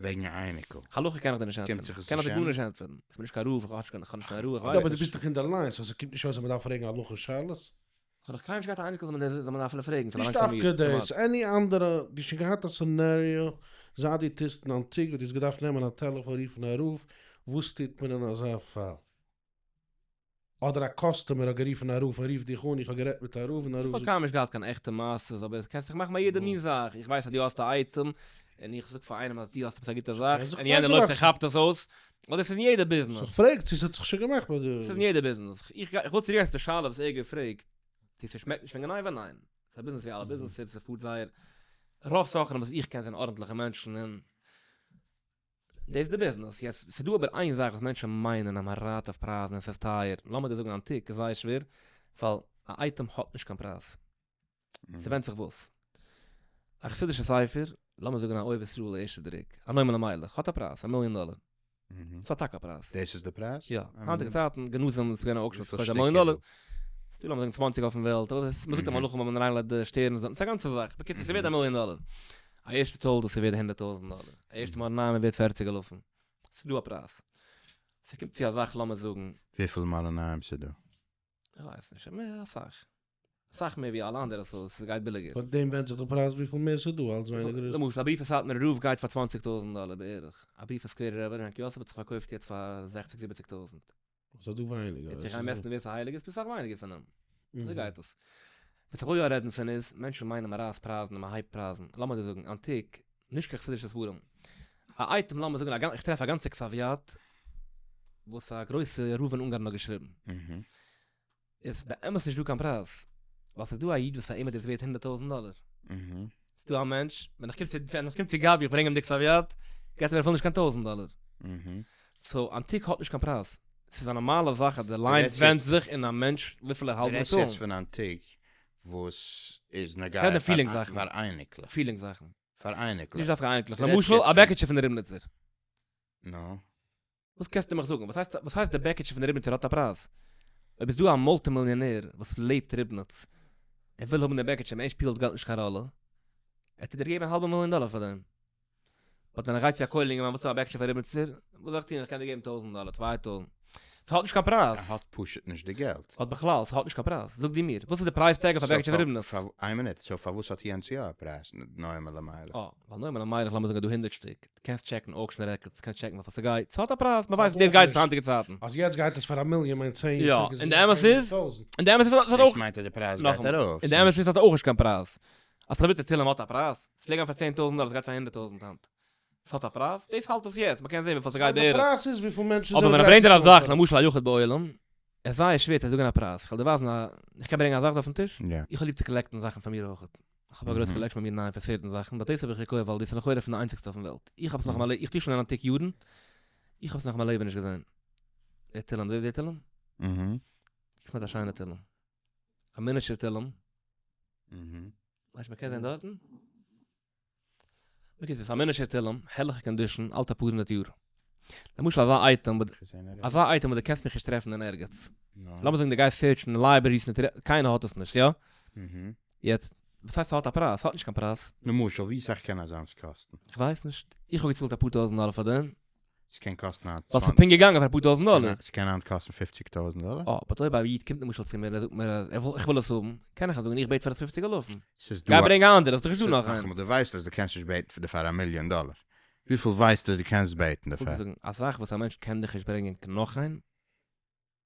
וועגן א אייניקל. הלכה קען איך דיר נישט ענטפערן. קומט זיך עס קען איך דיר נישט גארנישט ענטפערן. איך בין נישט קיין רב, איך האב נישט קיין רוח, איך ווייס נישט. יא אבער דו ביסט דאך אינדערליין, סאו ס'קומט נישט אויס אז מ'דארף פרעגן הלכה שאלות. כ'האב נאך קיינמאל נישט געהאט א אייניקל זאל מען דארפן פרעגן, ס'באלאנגט פאר מיר. נישט דווקא דאס, עני אנדערע, דו שוין געהאט א סענעריאו, זייט דו טוסט אין אנטיקוואד, דו האסט געדארפט נעמען א טעלעפאן רופן א רב, וואס טוט מען אין אזא פאל? אדער א קאסטומער האט גערופן א רב און רוף דיך אן איך האב גערעדט מיט א רב און א רב זאגט. איך האב קיינמאל נישט געהאט קיין עכטע מעשה'ס אבער קענסט זיך מאכן ביי יעדע מין זאך איך ווייס אז דו האסט א אייטעם און איך זאג פאר איינעם אז דו האסט עפעס א גוטע זאך און יענער לויפט און כאפט עס אויס אדער ס'איז אין יעדע ביזנעס. סאו כ'פרעג צו ס'האט זיך שוין געמאכט ביי די. ס'איז אין יעדע ביזנעס. איך גיי איך וויל צוריקגיין צו די שאלה וואס ער האט געפרעגט צו ס'שמעקט נישט פון גניבה ניין ס'איז א ביזנעס ווי אלע ביזנעסער ס'פארט זייער רוב סוחרים וואס איך קען זענען ארנטליכע מענטשן און דאס איז די ביזנעס. יעצט, ס'דא אבער איין זאך וואס מענטשן מיינען אז מען רייט אויף פרייזן און ס'איז טייער. לאמיר דיר זאגן אן טיק, איז זייער שווער, ווייל א אייטעם האט נישט קיין פרייז. ס'ווענדט זיך וואס. א חסידישע ספר, לאמיר זאגן א אוהב ישראל ערשטע דרוק, א נועם אלימלך, האט א פרייז, א מיליאן דאלער. ס'האט טאקע א פרייז. דאס איז די פרייז? יא. היינטיגע צייטן, גנזים, ס'איז געווען א אוקשן, ס'קאסט א מיליאן דאלער. ס'דא לאמיר זאגן צוואַנציק אויפן וועלט, אבער מ'זאגט א מלאך ווען מ'איינלייגט די שטערנס, ס'איז א גאנצע זאך. בקיצור, ס'ווערד א מיליאן דאלער. א ערשטע תולדה ס'ווערד הונדערט טויזענט דאלער, א ערשטע מרן אהרן ווערד פערציג אלפים, ס'איז דא א פרייז, ס'קומט צו אזאך לאמיר זאגן. וויפיל מרן אהרן ס'איז דא? איך ווייס נישט, אבער אסאך, אסאך מער ווי אלע אנדערע סאו ס'גייט ביליגער. פון דעם ווענדט זיך די פרייז וויפיל מער ס'איז דא אלץ ווייניגער איז. למשל א בריוו פון סאטמארע רב גייט פאר צוואנציג טויזענט דאלער בערך, א בריוו פון סקווערע רב און הנקי יוסף האט זיך פארקויפט יעצט פאר זעכציג זיבעציג טויזענט. וואס האט דא ווייניגער? וועט זיך איינמעסטן ווער ס'הייליג איז פסח ווייניגער פון אים. אזוי גייט דאס. וואס איך וויל יא רעדן פון איז, מענטשן מיינען מ'רייסט פרייזן און מ'הייבט פרייזן. לאמיר דיר זאגן, אנטיק, נישט קיין חסידישע ספרים. א אייטעם לאמיר זאגן א גאנ איך טרעף א גאנצע קסאוויאט וואס א גרויסע רב אין אונגארן האט געשריבן. איז באמת נישט דא קיין פרייז, ווייל ס'איז דא א איד וואס פאר אים איז דאס ווערט הונדערט טויזנט דאלער, ס'איז דא א מענטש ווען איך קום צו ווען איך קום צו גבי איך ברענג אים די כספיות געט ער מיר אפילו נישט קיין טויזנט דאלער, סאו אנטיק האט נישט קיין פרייז, ס'איז א נארמאלע זאך אז די ליין ווענדט זיך אין א מענטש וויפיל ער האלט באטאלן. דו רעדסט יעצט פון אנטיק וואס איז נוגע פאר אייניקלעך. פאר אייניקלעך. נישט דווקא אייניקלעך, למשל א בעקיטשע פון די ריבניצער. נו? וואס קענסטו מיך זאגן? וואס הייסט די בעקיטשע פון ריבניצער האט א פרייז? אויב איז דא א מולטי מיליאנער וואס לעבט ריבניץ, ער וויל האבן די בעקיטשע און אין שפילט געלט נישט קיין ראלע, ער האט דיר געגעבן א האלבע מיליאן דאלער פאר דעם. באט ווען איך גיי צו א כולל אינגערמאן וואס האט א בעקיטשע פון ריבניצער, וואס זאל איך טון? איך קען דיר געבן טויזענט דאלער, צוויי טויזענט. ס'האט נישט קיין פרייז. ער האט פשוט נישט די געלט. אט בכלל, ס'האט נישט קיין פרייז. זאג דו מיר, וואס איז די פרייז טעג אויף א בעקיטשע פון ריבניץ? סאו, איין מינוט, סאו פארוואס האט יענץ יא א פרייז? נועם אלימלך. אה, ווייל נועם אלימלך, לאמיר זאגן, האט דא הונדערט שטיק. די קענסט טשעקן אוקשען רעקארדס, קענסט טשעקן וויפיל ס'גייט, ס'האט א פרייז, מ'ווייסט ווי דאס גייט צו היינטיגע צייטן. אז יעצט גייט עס פאר א מיליאן מיינט צען יאר צוריק איז עס געווען פֿיר הונדערט טויזענט. און די אמת איז ס'האט אויך, דאס מיינט אז די פרייז גייט נאכאמאל, ארויף. און די אמת איז ס'האט אויך נישט קיין פרייז. א סאלידע תהלים האט א פרייז? ס'פלעג גיין פאר צען טויזענט דאלער, ס'גייט פאר הונדערט טויזענט היינט. ס'האט א פרייז? דאס האלט עס יעצט, מ'קען זען וויפיל ס'גייט בערך. די פרייז איז וויפיל מענטשן אבער זענען ווען ער גרייט ברענגט צו ער א צאלן. זאך למשל א יחיד בעולם. עס איז זייער שווער צו זאגען א פרייז, איך וועל דיר ווייזען א, איך קען ברענגען א זאך דא אויפן טיש? יא. איך האב ליב צו קאלעקטען זאכן פאר מיר אויך, איך האב א גרויס קאלעקשאן ביי מיר ניין פון סערטען זאכן, באט דאס האב איך געקויפט ווייל דאס איז לכאורה פון די איינציגסטע אויפן וועלט, איך האב עס נאך אין מיין לעבן, איך טוה שוין אין אנטיק יארן, איך האב עס נאך אין מיין לעבן נישט געזען. דער תהלים, דו זעסט דער תהלים? אהה. קוק מיט א שיינע תהלים. א מינעטשור תהלים. אהה. מיינסט מען קען זען דארטן? בקיצור, ס'איז א מינעשער תהלים, הערליכע קאנדישאן, האלט אפאר הונדערט יאר. למשל אזא אייטעם, אזא אייטעם וואס דו קענסט מיך נישט טרעפן אין ערגעץ. לאמיר זאגן דו גייסט סערטשן אין לייברעריס, קיינער האט עס נישט, יא? יעצט, וואס הייסט ס'האט א פרייז? ס'האט נישט קיין פרייז. למשל, ווי סאך קען אזאנס קאסטן? כ'ווייס נישט. איך האב געצאלט אפאר טויזנט דאלער פאר דעם. ס'קען קאסטן היינט ווייל ס'איז פונקט געגאנגען פאר אפאר טויזנט דאלער. ס'קען היינט קאסטן פופציג טויזנט דאלער. אה, באט אויב א איד קומט למשל צו מיר און ער זאגט מיר אז ער וויל, איך וויל עס האבן, קען איך אים זאגן איך בעט פאר עס פופציג אלפים. ס'איז גיי דא א. ברענג א אנדערע, ס'איז דאך נישטא נאך איינער. נאכאמאל, דו ווייסט אז דו קענסט נישט בעטן דערפאר א מיליאן דאלער. וויפיל ווייסטו אז דו קענסט בעטן איך וואלט דערפאר? געזאגן, אסאך וואס א מענטש קען דיך נישט ברענגען נאך איין.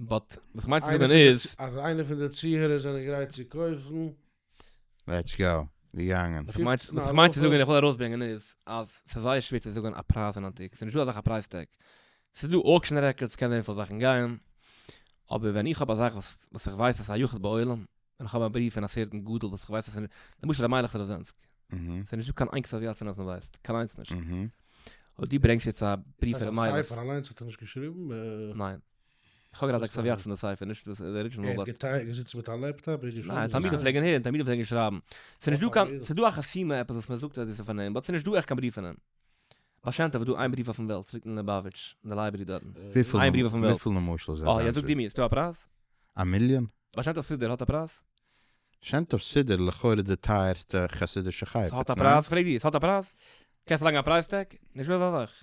באט וואס כ'מיין צו זאגן איז. אז איינער פון די צוהערער זענען גרייט צו קויפן. לעטס גאו, ווי געאנגען? וואס כ'מיין וואס כ'מיין צו זאגן און כ'וויל ארויסברענגען איז אז ס'איז זייער שווער צו זאגן א פרייז אין אנטיק, ס'איז נישטא אזאלכע פרייז טעג. ס'איז דא אוקשען רעקארדס, ס'קען זיין וויפיל זאכן גייען, אבער ווען איך האב א זאך וואס איך ווייס אז ס'איז א יחוד בעולם, און איך האב א בריוו פון א סערטען גדול וואס איך ווייס אז למשל ר' מיילעך רוזענסק אהה ס'איז נישטא קיין איין כתב יד פון אים אז מ'ווייסט, קיין איינס נישט. אהה אויב דו ברענגסט יעצט א בריוו פון ר' מיילעך. די ספר אליינס האט ער נישט געשריבן? ניין. איך האב געהאט א כתב יד פון די ספר, נישט דאס די ארידזשינעל באט. ער האט געזיצן מיט א לעפטאפ און געשריבן? ניין, תלמידים פלעגן הערן, תלמידים פלעגן שרייבן. ס'איז נישט דא קיין, ס'איז דא א חסימה עפעס וואס מ'זאגט אז דאס איז פון אים, באט ס'איז נישט דא עכט קיין בריוו פון אים. באשיינט אבער דא איין בריוו אויפן וועלט ס'ליגט אין ליבאוויטש אין די לייבערי דארטן. איין בריוו אויפן וועלט. וויפיל למשל איז אזא? אה יעצט זאג דו מיר, ס'דא א פרייז? א מיליאן? באשיינט אויף סידור האט א פרייז? שיינט אויף סידור לכאורה די טייערסטע חסידישע חפץ, ניין? ס'האט א פרייז? פרעג דיר, ס'האט א פרייז? קענסט לייגן א פרייז טעג? נישט אזא זאך.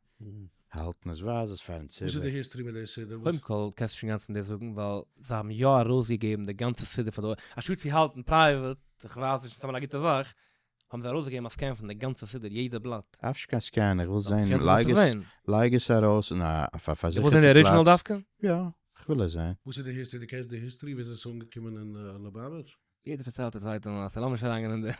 האלטן אז ווייז עס פארן ציבור. וואס איז די היסטערי מיט די סידור? קודם כל קענסטו שוין גאנץ נישט זאגן ווייל זיי האבן יא ארויסגעגעבן די גאנצע סידור פאר די עולם, אנשטאט צו האלטן פרייוועט, איך ווייס נישט, סתם א גוטע זאך, האבן זיי ארויסגעגעבן א סקען פון די גאנצע סידור יעדע בלאט. אפשר קיין סקען, איך וויל זען, לייג עס ארויס אין א אויף א פארזיכערטע פלאץ. דו ווילסט זען די ארידזשינעל דווקא? יא, איך וויל עס זען. וואס איז די היסטערי? דו קענסט די היסטערי וויאזוי עס איז אנגעקומען אין לובאוויטש? יעדער פארציילט א צווייטער מעשה, לאמיך אריינגיין אין די.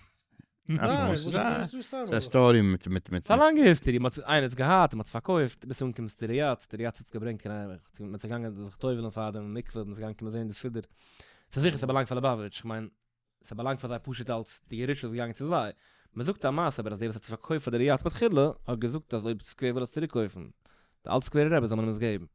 ס'איז א סטארי מיט מיט מיט. ס'איז א לאנגע היסטערי, מ'האט עס, איינער האט עס געהאט און מ'האט עס פארקויפט, ביז ס'אנגעקומען צו די ריאדס, די ריאדס האט עס געברענגט קיין אייוועלט, צו מ'איז געגאנגען זיך טובל'ן פאר דעם מקווה, מ'איז געגאנגען קומען זען די סידור, ס'איז זיכער ס'באלאנגט פאר ליבאוויטש, כ'מיין, ס'באלאנגט פאר זיי פשוט אלס די ירושה איז געגאנגען צו זיי, מ'זאגט א מעשה אבער אז דער וואס האט עס פארקויפט פאר די ריאדס מתחילה, האט געזאגט אז אויב סקווער וויל עס צוריקקויפן, די אלט סקווערע רעבעס זאל מען אים עס געבן.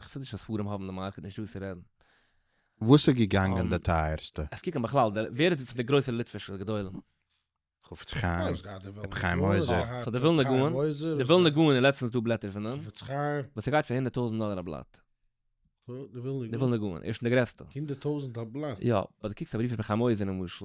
חסידישע ספרים האבן די מארקעט נישט דא צו רעדן. וואס איז געגאנגען די טייערסטע? עס קוקן בכלל דער ווער איז פון די גרויסע ליטווישע גדולים? חפץ חיים, רבי חיים עוזר. סא די ווילנע גאון, די ווילנע גאון איז לעצטענס דא בלעטער פון אים, וואס ס'גייט פאר הונדערט טויזענט דאלער א בלאט. די ווילנע גאון איז שוין די גרעסטע. הונדערט טויזענט א בלאט? יא, אויב די קוקסט א בריוו פון רבי חיים עוזר למשל.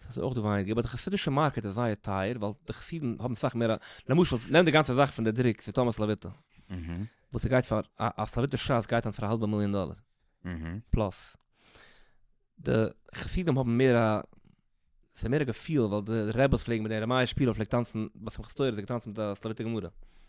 ס'איז אויך דא ווייניגער, באט די חסידישע מארקעט איז זייער טייער, ווייל די חסידים האבן סאך מער א, למשל, נעם די גאנצע זאך פון די דרוק פון טאמאס לאוויטא, וואס ס'גייט פאר, א א סלאוויטע ש ס גייט היינט פאר א האלבע מיליאן דאלער, פלאס. די חסידים האבן מער א, ס'איז מער א געפיל, ווייל די רעבעס פלעגן מיט די ארעמייע שפילער פלעגט טאנצן, ביי שמחת תורה האט ער געטאנצן מיט א סלאוויטע גמרא.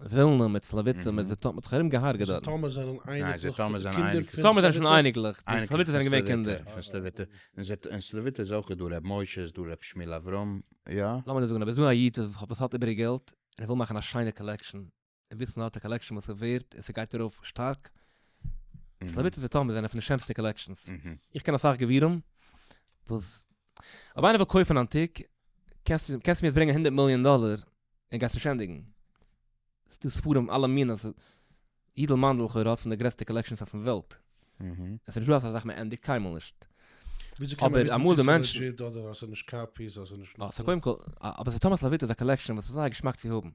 ווילנע מיט סלאוויטע מיט זיטאמער האט זיך ארום געהארגעט דארט. זיטאמער זענען אייניקלעך פון די קינדער פון זיטאמער זענען שוין אייניקלעך די סלאוויטע זענען געווען קינדער פון סלאוויטע און סלאוויטע איז אויך דא ר' משה איז דא ר' שמואל אברהם יא. לאמיר דיר זאגן אז דא איז דא א איד וואס האט איבעריג געלט און ער וויל מאכן א שיינע קאלעקשאן און וויסן אז ער האט א קאלעקשאן וואס איז ווערט און ס'גייט ארויף שטארק סלאוויטע און זיטאמער זענען פון די שענסטע קאלעקשאנס איך קען אסאך גבירים וואס אויב איינער וויל קויפן אנטיק קענסטו מיר עס ברענגען הונדערט מיליאן דאלער. און גייסט נישט ענדיגן. ס'איז דא ספרים אלע מינים, ס'איז, יידל מאנדל לכאורה האט פון די גרעסטע קאלעקשאנס אויפן וועלט. עס איז נישט דא אזא זאך מען ענדיגט קיינמאל נישט. וויאזוי קען מען וויסן צו ס'איז לעדזשיט אדער אז ס'איז נישט קאפיס אז ס'איז נישט נאך דא? קודם כל, אבער ס'איז טאמאס לאוויטא איז א קאלעקשאן וואס איז זייער געשמאק צו האבן.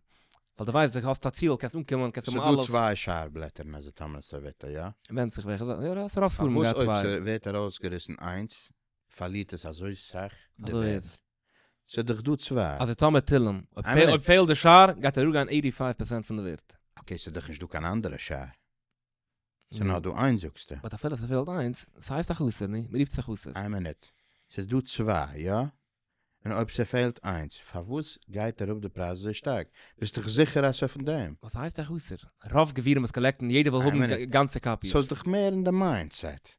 ווייל די ווייסט די האסט א ציהל קענסט אנקומען קענסט האבן אלעס. ס'איז דא צוויי שאר בלעטער אין איזה טאמאס לאוויטא, יא? ווענדט זיך וועלכע, יא יא ס'רוב ספרים גייט צוויי. פארוואס אויב ס'ווערט ארויסגעריסן איינס פארלירט עס אזוי סאך די ווערד? ס'דאך דא צוויי. אז יתום מתילם, אויב פעלט די שער גייט ער אפגיין עיטי פייוו פערסענט פון די ווערט. אקעי ס'דאך נישט דא קיין אנדערע שער. ס'נאר דא איינס זאגסטו. באט אפילו ס'פעלט איינס, ס'הייסט א חסר, ני? מ'רופט עס א חסר. איין מינוט. ס'איז דא צוויי, יא? און אויב ס'פעלט איינס, פארוואס גייט אראפ די פרייז אזוי שטארק? ביסט דאך זיכער אז ס'פון דעם? וואס הייסט א חסר? רוב גבירים וואס קאלעקטן, יעדער וויל האבן גאנצע קאפיעס. סאיז דאך מער אין די מיינדסעט.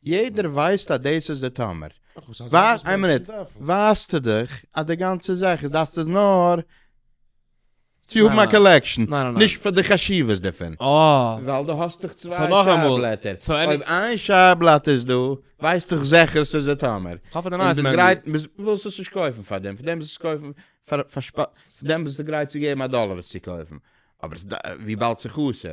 יעדער ווייסט אז דאס איז די טעמער. ווארט איין מינוט, ווייסטו דאך אז די גאנצע זאך איז דאס איז נאר צו האבן א קאלעקשאן, נישט פאר די חשיבות דערפון. ווייל דו האסט דאך צוויי שער בלעטער, אויב איין שער בלאט איז דא, ווייסט דאך זיכער ס'איז די טעמער. און ביסט גרייט, ווילסט עס נישט קויפן פאר דעם, פאר דעם וועסטו קויפן פאר דעם ביסטו גרייט צו געבן א דאלער עס צו קויפן, אבער וויבאלד ס'איז חסר,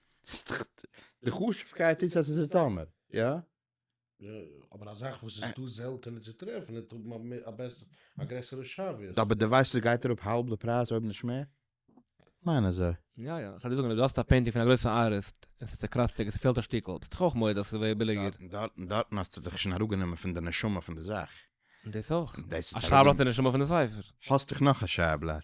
די חשובקייט איז אז עס איז טאמער, יא? יא יא, אבער א זאך וואס איז דא זעלטענער צו טרעפן וועט האבן א א גרעסערע שווה. אבער די ווייסט עס גייט אראפ האלב די פרייז אויב נישט מער? כ'מיין אזוי. יא יא, כ'על דיר זאגן אויב דו האסט א פעינטינג פון א גרויסע ארטיסט און ס'איז צעקראצטעג און ס'פעלט א שטיקל, ביסט דאך אויך מודה אז ס'ווערט ביליגער. דארטן דארטן האסטו דיך שוין אראפגענומען פון די נשמה פון די זאך. דאס אויך. א שייבלאט איז נשמה פון די ספר. האסט דיך נאך א שייבלאט.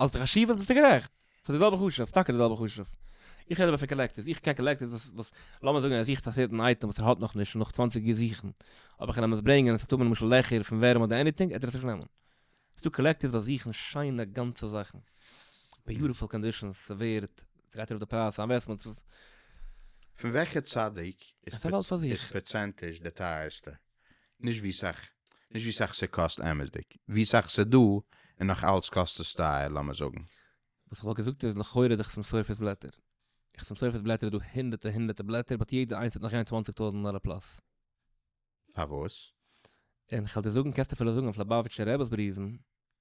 אלס די חשיבות ביסטו גערעכט, ס'איז די זעלבע חשוב, ס'טאקע די זעלבע חשוב. איך רעד אבער פון קאלעקטערס, איך קען קאלעקטערס וואס וואס לאמיר זאגן ער זוכט א סערטען אייטעם וואס ער האט נאך נישט און נאך צוואנציג יאר זוכן אויב איך קען אים עס ברענגען און עס וועט האבן למשל לעכער פון ווערים אדער עניטינג וועט ער עס נישט נעמען. ס'דא קאלעקטערס וואס זוכן שיינע גאנצע זאכן, ביוטיפול קאנדישאנס, ס'ווערט, ס'גייט ארויף די פרייז, ס'איז א אינוועסטמענט, ס'איז. פון וועלכע צדיק איז פערצענטיזש די טייערסטע? נישט ווי סאך נישט ווי סאך ס'קאסט אמת'דיג, ווי סאך ס'דא און נאך אלץ קאסט עס טייער לאמיר זאגן. וואס כ'וואלט געזאגט איז לכאורה די חסם סופר'ס בלעטער. חסם סופר'ס בלעטער איז דא הונדערטע הונדערטע בלעטער באט יעדע איינס וועט נאך גיין צוואנציג טויזענט דאלער פלאס. פארוואס? און כ'על דיר זאגן קענסט אפילו זאגן אויף ליובאוויטשער רב'ס בריוון.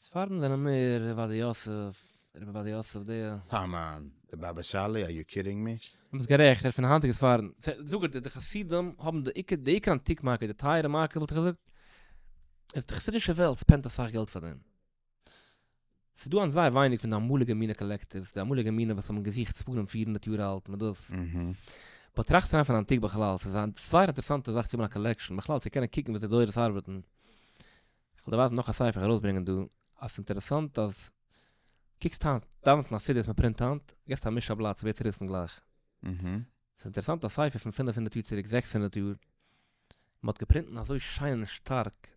ספרדים זענען מער עובדיה יוסף, רבי עובדיה יוסף דער. קאמאן, די באבע סאלי, אר יו קידינג מי? דו ביסט גערעכט, ער איז פון די היינטיגע ספרדים. זאג ער, די חסידים האבן די עיקר, די עיקר אנטיק מארקעט, די טייערע מארקעט וואלט איך געזאגט, איז די חסידישע וועלט ספענדט אסאך געלט פאר דעם. ס'איז דא היינט זייער ווייניג פון די אמאליגע מינע קאלעקטיווס, די אמאליגע מינע וואס האבן געזוכט ספרים פיר הונדערט יאר אלט מיט דאס. באט טראכסט אריין פון אנטיק בכלל, ס'איז א זייער אינטערעסאנטע זאך צו האבן א קאלעקשאן, בכלל צו קענען קוקן ווי די דורות ארבעטן. כ'וועל דיר ווייזן נאך א ספר איך וועל ארויסברענגען דא, אז ס'איז אינטערעסאנט אז קוקסט היינט, דאווענסט אין א סידור וואס מ'פרינט היינט, געסט א מיש א בלאט ס'ווערט צוריסן גלייך. ס'איז אינטערעסאנט א ספר פון פינף הונדערט יאר צוריק, זעקס הונדערט יאר, מ'האט געפרינט אין אזוי שיין און שטארק,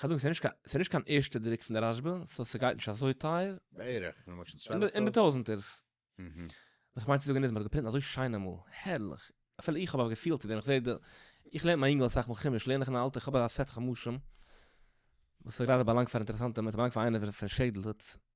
כ'זאג ס'איז נישט קיין ערשטע דרוק פון די רשב א, סאו ס'גייט נישט אזוי טייער. בערך, למשל צוועלף טויזענט? אין די טויזענטערס. וואס כ'מיין צו זאגן איז, מ'האט געפרינט אזוי שיין אמאל, הערליך, אפילו איך האב א געפיל צו דעם, איך זע די, איך לערן מיין אינגל אסאך מאל חומש, לערן איך אין א אלטע, כ'האב אזא סעט חומשים, וואס איז גראדע באלאנגט פאר אינטערעסאנטע, ס'באלאנגט פאר איינער פון שעדל,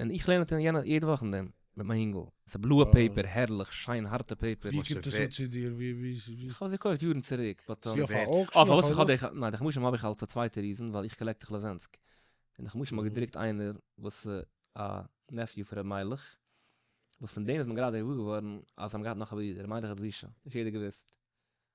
און איך לערן אט יענע יעדע וואך אין דעם מיט מיין יונגל, ס'איז בלויע פעיפער, הערליך שיין הארטע פעיפער. ווי קומט עס אן צו דיר? ווי? איך האב עס געקויפט יארן צוריק, באט. ווי אויף א אוקשן? אויף פארוואס איך האב די, ניין די חמשים האב איך אלס א צווייטע ריזען ווייל איך קאלעקט איך לאזענסק, און די חמשים האט געדרוקט איינער וואס א נעפיו פון ר' מיילעך, וואס פון דעם איז מען גראדע געוואר געווארן אז זיי האבן געהאט נאך א ברודער ר' מיילעך רב זושא, נישט יעדער געוואוסט.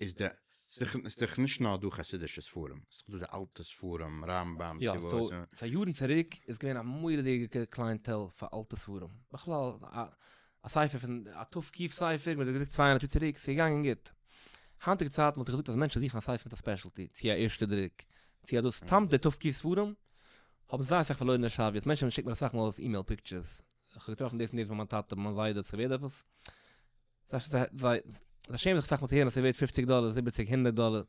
איז די, ס'איז דאך נישט נאר דא חסידישע ספרים, ס'איז דאך דא די אלטע ספרים, רמב ם, סי' וואס. יא, פאר יארן צוריק איז געווען א מורא'דיגע קלייענטעל פאר אלטע ספרים, בכלל א ספר פון, א תוו ק ספר, מ'האט געדרוקט צוויי הונדערט יאר צוריק, ס'איז געגאנגען גוט. היינטיגע צייטן וואלט איך געזאגט אז מענטשן זוכן א ספר מיט א ספעשעלטי, צו א ערשטע דרוק, צו אזוי, סתם די תוו ק ספרים האבן זייער אסאך פארלוירענע שאריות, מענטשן שיקן מיר אסאך מאל אויף אימעיל פיקטשערס, כ'האב געטראפן דאס און דאס ביי מיין טאטע, ביי מיין זיידע, ס'ווערט עפעס. זיי שעמען זיך אסאך מאל צו הערן אז ס'ווערט פופציג דאלער, זיבעציג, הונדערט דאלער.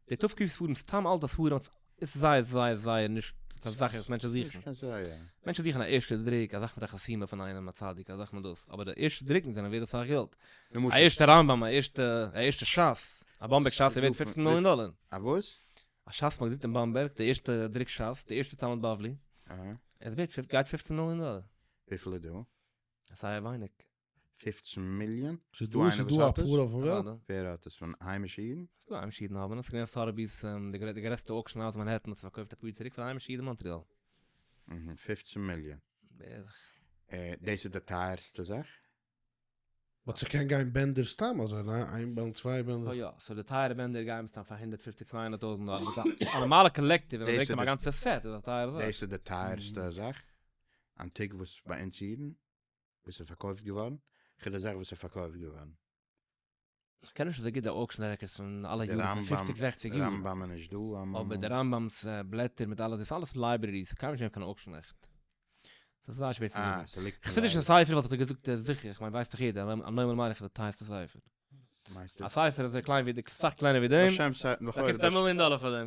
די טף ק ספרים, סתם אלטע ספרים, איז זייער זייער זייער נישט קיין זאך וואס מענטשן זוכן. נישט קיין זייער. מענטשן זוכן א ערשטע דרוק, א זאך מיט א חתימה פון איינעם, א צדיק, א זאך מיט דאס. אבער די ערשטע דרוקן זענען ווערד אסאך געלט. א ערשטע רמב ם, א ערשטע, א ערשטע שס, א באמבערג שס איז ווערד פופצן מיליאן דאלער. א וואס? א שס מ'האט געדרוקט אין באמבערג, די ערשטע דרוק שס, די ערשטע תלמוד בבלי, אהה. איז ווערד, גייט פופצן מיליאן דאלער. וויפיל איז דא? זייער ווייניג. פֿופֿצן מיליאן? ס'איז דא איינער וואס האט עס? ווער האט עס? פון היימישע אידן? ס'איז דא היימישע אידן האבן עס, כ'מיין סארביס די גרעסטע אוקשען האוז מאנהעטן האט עס פארקויפט אפאר יאר צוריק פאר היימישע אידן אין מאנטריאל. אהה, פֿופֿצן מיליאן. בערך. דאס איז די טייערסטע זאך? באט ס'קען גיין בענדער סתם אזוי, ניין? איין בענד, צוויי בענדער. סוי יא, סוי די טייערע בענדער גייען מסתם פאר הונדערט פֿופֿציק צוויי הונדערט טויזענט דאלער, באט א נארמאלע קאלעקטיוו ווען מ'ברענגט אהיים א גאנצע סעט איז א טייערע זאך. דאס איז די טייערסטע זאך? אנטיק וואס ביי אונז אידן? וואס איז פארקויפט געווארן? כ'רעד אזאך וואס איז פארקויפט געווארן. איך קען נישט אזוי גוט די אוקשען רעקארדס פון אלע יארן פון פופציג זעכציג יאר. רמב ם איז נישט דא. אבער די רמב ם'ס בלעטער מיט אלע די איז אלעס לייברערי ס'קאן נישט זיין קיין אוקשען עכט. ס'איז זייער שווער צו זאגן. חסידישע ספר וואלט איך דיר געזאגט זיכער איך מיין ווייסט דאך יעדער אז א נארמאל מאריך איז די טייערסטע ספר. א ספר אזוי קליין ווי די סאך קלענער ווי דעם באקומסטו א מיליאן דאלער פאר דעם.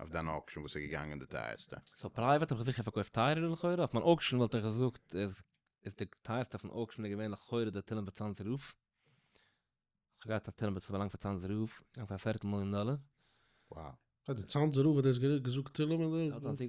אויף דיין אוקשען וואס איז געגאנגען די טייערסטע? סאו פרייוועט האב איך זיכער פארקויפט טייערער לכאורה, אויף מיין אוקשען וואלט איך געזאגט איז איז די טייערסטע אויפן אוקשען איז געווען לכאורה די תהלים וצאנז רוף, כ'האב געהאט א תהלים וואס איז באלאנגט פאר צאנז רוף, געגאנגען פאר א פערטל מיליאן דאלער. וואו. די צאנז רוף האט דאס געזאגט תהלים און די.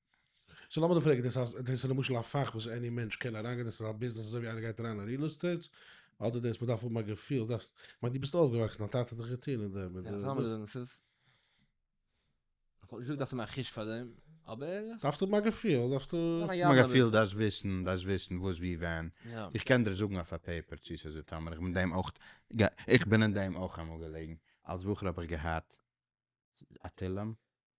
סאו לאמיר דא פרעגן, דאס אז דאס איז למשל א פאך וואס עני מענטש קען אריינגיין, דאס איז א ביזנעס אזוי ווי איינער גייט אריין אין ריעל עסטעיט, אדער דאס מ'דארף האבן א געפיל, דארפסט, כ'מיין דו ביסט אויפגעוואקסן, דיין טאטע האט דיך געטון אין דעם, יא, לאמיר זאגן עס איז, כ'וואלט נישט געזאגט דארפסט האבן א חוש פאר דעם, אבער. דארפסט האבן א געפיל, דארפסטו. דארפסט האבן א געפיל, דארפסט וויסן, דארפסט וויסן וואס ווי ווען, איך קען דיר זאגן אויף א פעיפער צו ס'איז איתם, און איך בין דעם אויך, איך בין אין דעם אויך אמאל געלעגן, אלס בחור האב איך געהאט א תהלים.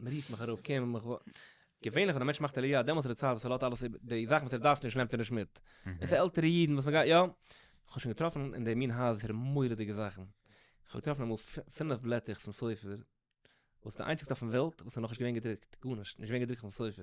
מען רופט מיך אראפ קען מען מיך ווארט. געווענליך ווען א מענטש מאכט עליה דעמאלטס איז די צייט וואס ער לאזט אלעס איבער, די זאכן וואס ער דארף נישט נעמט ער נישט מיט, און ס'איז עלטערע אידן וואס מען גייט יא, כ'האב שוין געטראפן אין די מין הייזער מורא'דיגע זאכן, כ'האב געטראפן אמאל פינף בלעטער צום ספר, וואס איז די איינציגסטע אויפן וועלט וואס איז נאכנישט געווען געדרוקט, גארנישט, נישט געווען געדרוקט אויפן ספר.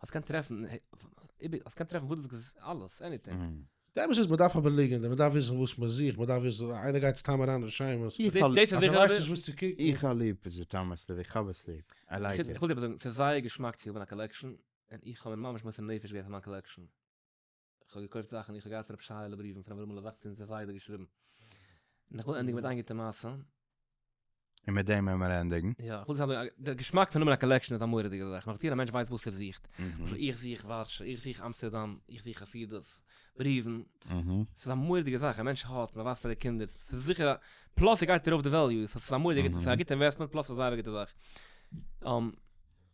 אז קען טרעפן איבער אז קען טרעפן וואס דאס איז אלעס עניטינג. די אמת איז מען דארף אבער ליגענט מען דארף וויסן וואס מען זוכט מען דארף וויסן איינער גייט סתם אריין רשימות איך האב ליב אז ער ווייסט נישט וואס צו קוקן. איך האב ליב איז עס טעמעס לוי איך האב עס ליב איי לייק איט. איך וויל דיר אבער זאגן ס'איז זייער געשמאק צו האבן א קאלעקשאן און איך האב מיר ממש מוסר נפש געווען פאר מיין קאלעקשאן. איך האב געקויפט זאכן איך האב געהאט רב שייעלע בריוון פון אברהמעלע וואקטער און זיי ביידע געשריבן. און איך וויל ענדיגן מיט איין גוטע מעשה. און מיט דעם וועל מיר ענדיגן. יא, איך וויל זיך האבן, דער געשמאק פון האבן א קאלעקשאן איז א מורא'דיגע זאך, נאכדיר א מענטש ווייסט וואס ער זוכט, למשל איך זוך ווארשע, איך זוך אמסטערדאם, איך זוך חסידות, בריוון, ס'איז א מורא'דיגע זאך, א מענטש האט, מען ווייזט פאר די קינדער, ס'איז זיכער א, פלאס ס'גייט ארויף די וועליו, ס'איז א מורא'דיגע, ס'איז א גוטע אינוועסטמענט פלאס ס'איז א זייער גוטע זאך.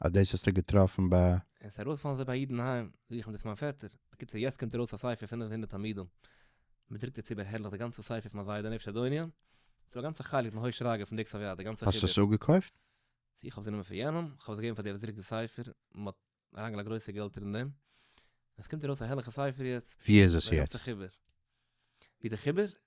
אז דאס האסטו געטראפן ביי. עס ארויס פאלן זיי ביי א איד אינהיים זוכן דאס מיין פעטער, בקיצור יעצט קומט ארויס א ספר פינף הונדערט עמודים, מען דרוקט דערצו בער הערליך די גאנצע ספר פון א זיידע נפש אדוניא, ס'דא א גאנצע חלק פון הוי שרגא פון דיקס אוו יד די גאנצע חיבור. האסט עס אפגעקויפט? צו איך האב די נומער פון יענעם, איך האב עס געגעבן פאר דער וואס דרוקט די ספר, מען האט אריינגעלייגט גרויסע געלטער אין דעם, עס קומט ארויס א הערליכע ספר יעצט, ווי איז עס די גאנצע יעצט? חיבור, ווי די חיבור?